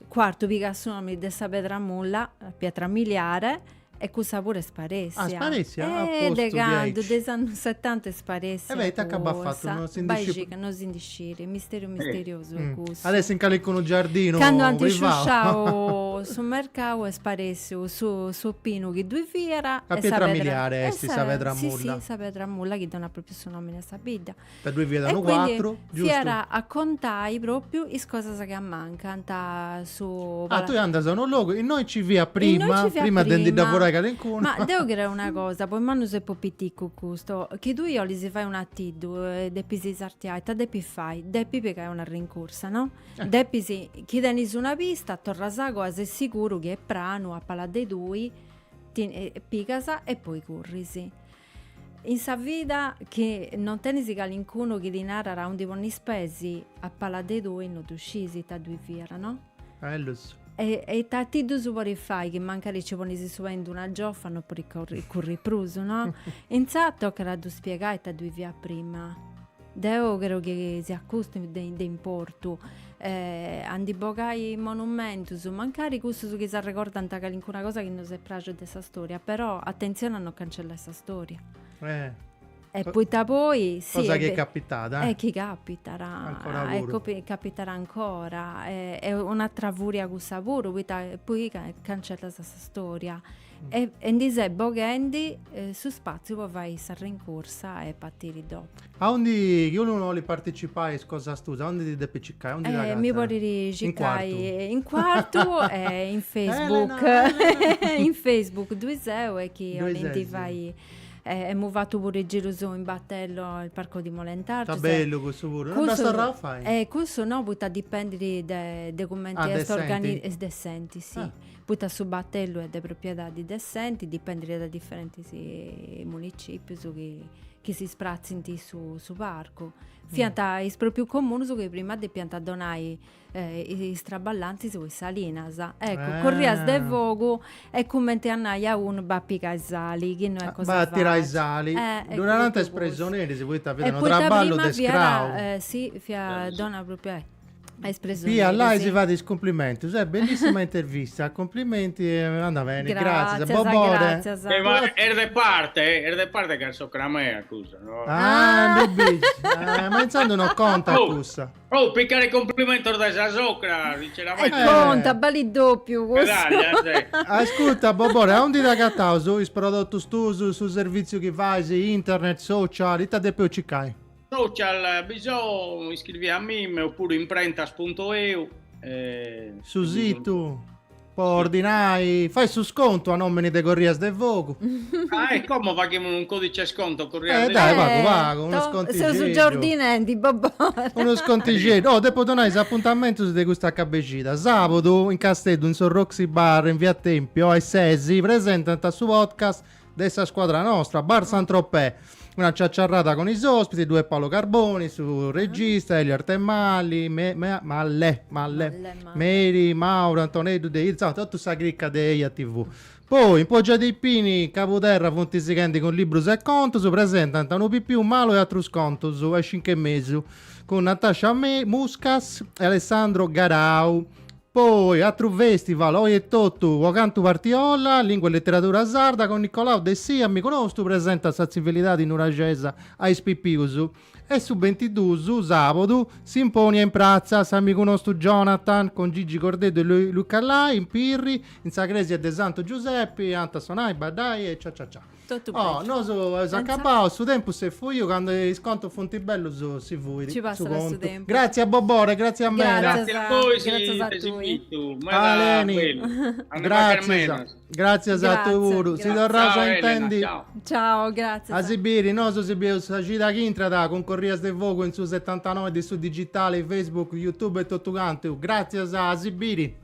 Cuartu pigat su nomini de sa pedra mulla, pietra miliare. E cussa puru est sparessia. Ah, est sparessia? A postu, diaici. E de candu, de is annus setanta est sparessia cussa. E beh, ita nci b'at fatu, no si ndi scit. No si ndi scit, est misteriu misteriosu cussu. At essi in calicunu giardinu privau. Candu ant sciusciau su mercau est sparessiu su su pinu chi ddui fiat. Sa pietra miliari est sa pedra mulla. Si, si, sa pedra mulla chi donat propriu su nomini a sa bidda. Da ddoi fiat a unu cuatru, giustu? Fiat a contai propriu is cosas chi ammancant, su Ah, tui andas a unu logu, innoi nci fiat prima, prima de ndi dda furai calincunu. Ma deu creu una cosa, po is mannus e po piticu custu, chi tui 'olis fai un'atiddu e depis sartiai, ita depis fai? Depis pigai una rincursa, no? Depis, chi tenis una pista, torras a coa, ses siguru chi est pranu, a pala de tui, ti pigas e poi curris. In sa vida chi non tenis calincunu chi ti narat a undi ponnis peis, a pala de tui no ddu sciis ita ddui fiat, no? Bellus. E ita, atiddus podit fai chi mancari nci ponis su pei in d-una giofa no podis curri prus, no? Intzà tocat a ddu spiegai ita ddui fiat prima. Deo creo chi siat custu de de importu. A ndi bogai monumentus, mancari cussus chi s'arregordant calincuna cosa chi no s'est pràxia de sa storia, però atentzioni a no cancellai sa storia. Eh. E poita poi, si. Cosa chi est capitada. E chi capitat. Ancora puru. E capitat ancora. Est un'atra furia cussa puru, poita poi cancellas sa storia. E ndi ses boghendi su spàtziu po fai sa rincursa e partiri dopu. Aundi chi unu bolit participai is cosas tuas, aundi ti depit circai, aundi ti agatat? Mi podit circai in Cuartu e in Facebook. In Facebook ddoi seu e chi 'olint fai, emu fatu puru is girus in battello, il Parco di Molentargius. Est bellu cussu puru, no dd'as torrau a fai? Cussu no, poita dipendit de cumenti est organi. Est de s'enti, si. Poita su battellu est de propriedadi de s'enti, dipendit da diferentis municipius chi si spratzint su parcu. Fiant is pròprius comunus chi prima depiant donai is traballantis po is salinas. Eccu, Corrias de Fogu e cumenti a nai a unu bai a pigai sali, chi no est cosa fàcili. Bai a tirai sali. Ddu narant is presoneris poita fiat unu traballu de scrau. Si, fiat donna proprietaria. Pia Lai si fat is cumplimentus. Eh, bellissima intervista, cumplimenti e anda beni. Gratzias, Gratzias, Bobore. gratzias. E ma est de parte, eh, est de parte ca est socra mea cussa, no? Ah, ndi bici. Eh, ma intzandus no contat Oh. cussa. Oh, picare cumplimentos dae sas socras, E sinceramente. Eh. conta, balit dopiu cussa. Medaglia, eh, sì. Ascurta, Bobore, aundi ddus agataus is prodotus tuus, su servìtziu chi fais, internet, social, ita depeu circai? Social bi so, iscrivi a mime oppuru imprentas.eu. Eh, su situ po ordinai, fai su scontu a nomini de Corrias de Fogu. ah, e como faghimus un codice sconto Corrias eh, de dai, Fogu? Pagu, pagu, unu scontigeddu. Seus già ordinendi, Bobore. Unu scontigeddu. Oh, depo donai is apuntamentus de cust'acabu 'e xida. Sabudu in Casteddu in su Roxy Bar in Via Tempio a is sesi presentant su podcast de sa scuadra nostra, Bar Saint-Tropez, una ciaciarrada cun is ospitis, ddu est Paolo Carboni, su regista, Elio Arthemalle, me, me, Mallè, Mallè, Meri, Mauro, Antoneddu de Irzau, totu sa cricca de Eja TV. Poi, in Poggio dei Pini, Cabuderra funt sighendi cun librus e contus, presentant Unu pipiu malu e atrus contus, a is cincu e mesu, cun Natascia Muscas e Alessandro Garau, Poi, atru festival, oi etotu, po cantu Partiolla, lingua e leteradura sarda, con Nicolau Dessì, amigu nostu, presentat sa tzivilidadi nuraxesa a is pipius. E su bintidus, sàbudu, simponia in pratza, s'amigu nostu Jonathan, con Gigi Cordeddu e Luca Lai, in Pirri, in sa cresia de Santu Giusepi, ant a sonai, baddai e cia cia cia. Totu beni. Oh, nosu eus acabau, su tempus s'est fuiu, candu is contus funt bellus si fuit su contu. Ci passat su tempus. Gratzias Bobore, gratzias meda. Gratzias a bois, gratzias a tui. Aleni, gratzias, gratzias a tui puru, si torraus a intendi. Ciao, gratzias. A si biri, nosu si bideus sa cida chi intrat cun Corrias de Fogu in su setantanoi de su digitali, Facebook, Youtube e totu cantu. Gratzias, a si biri.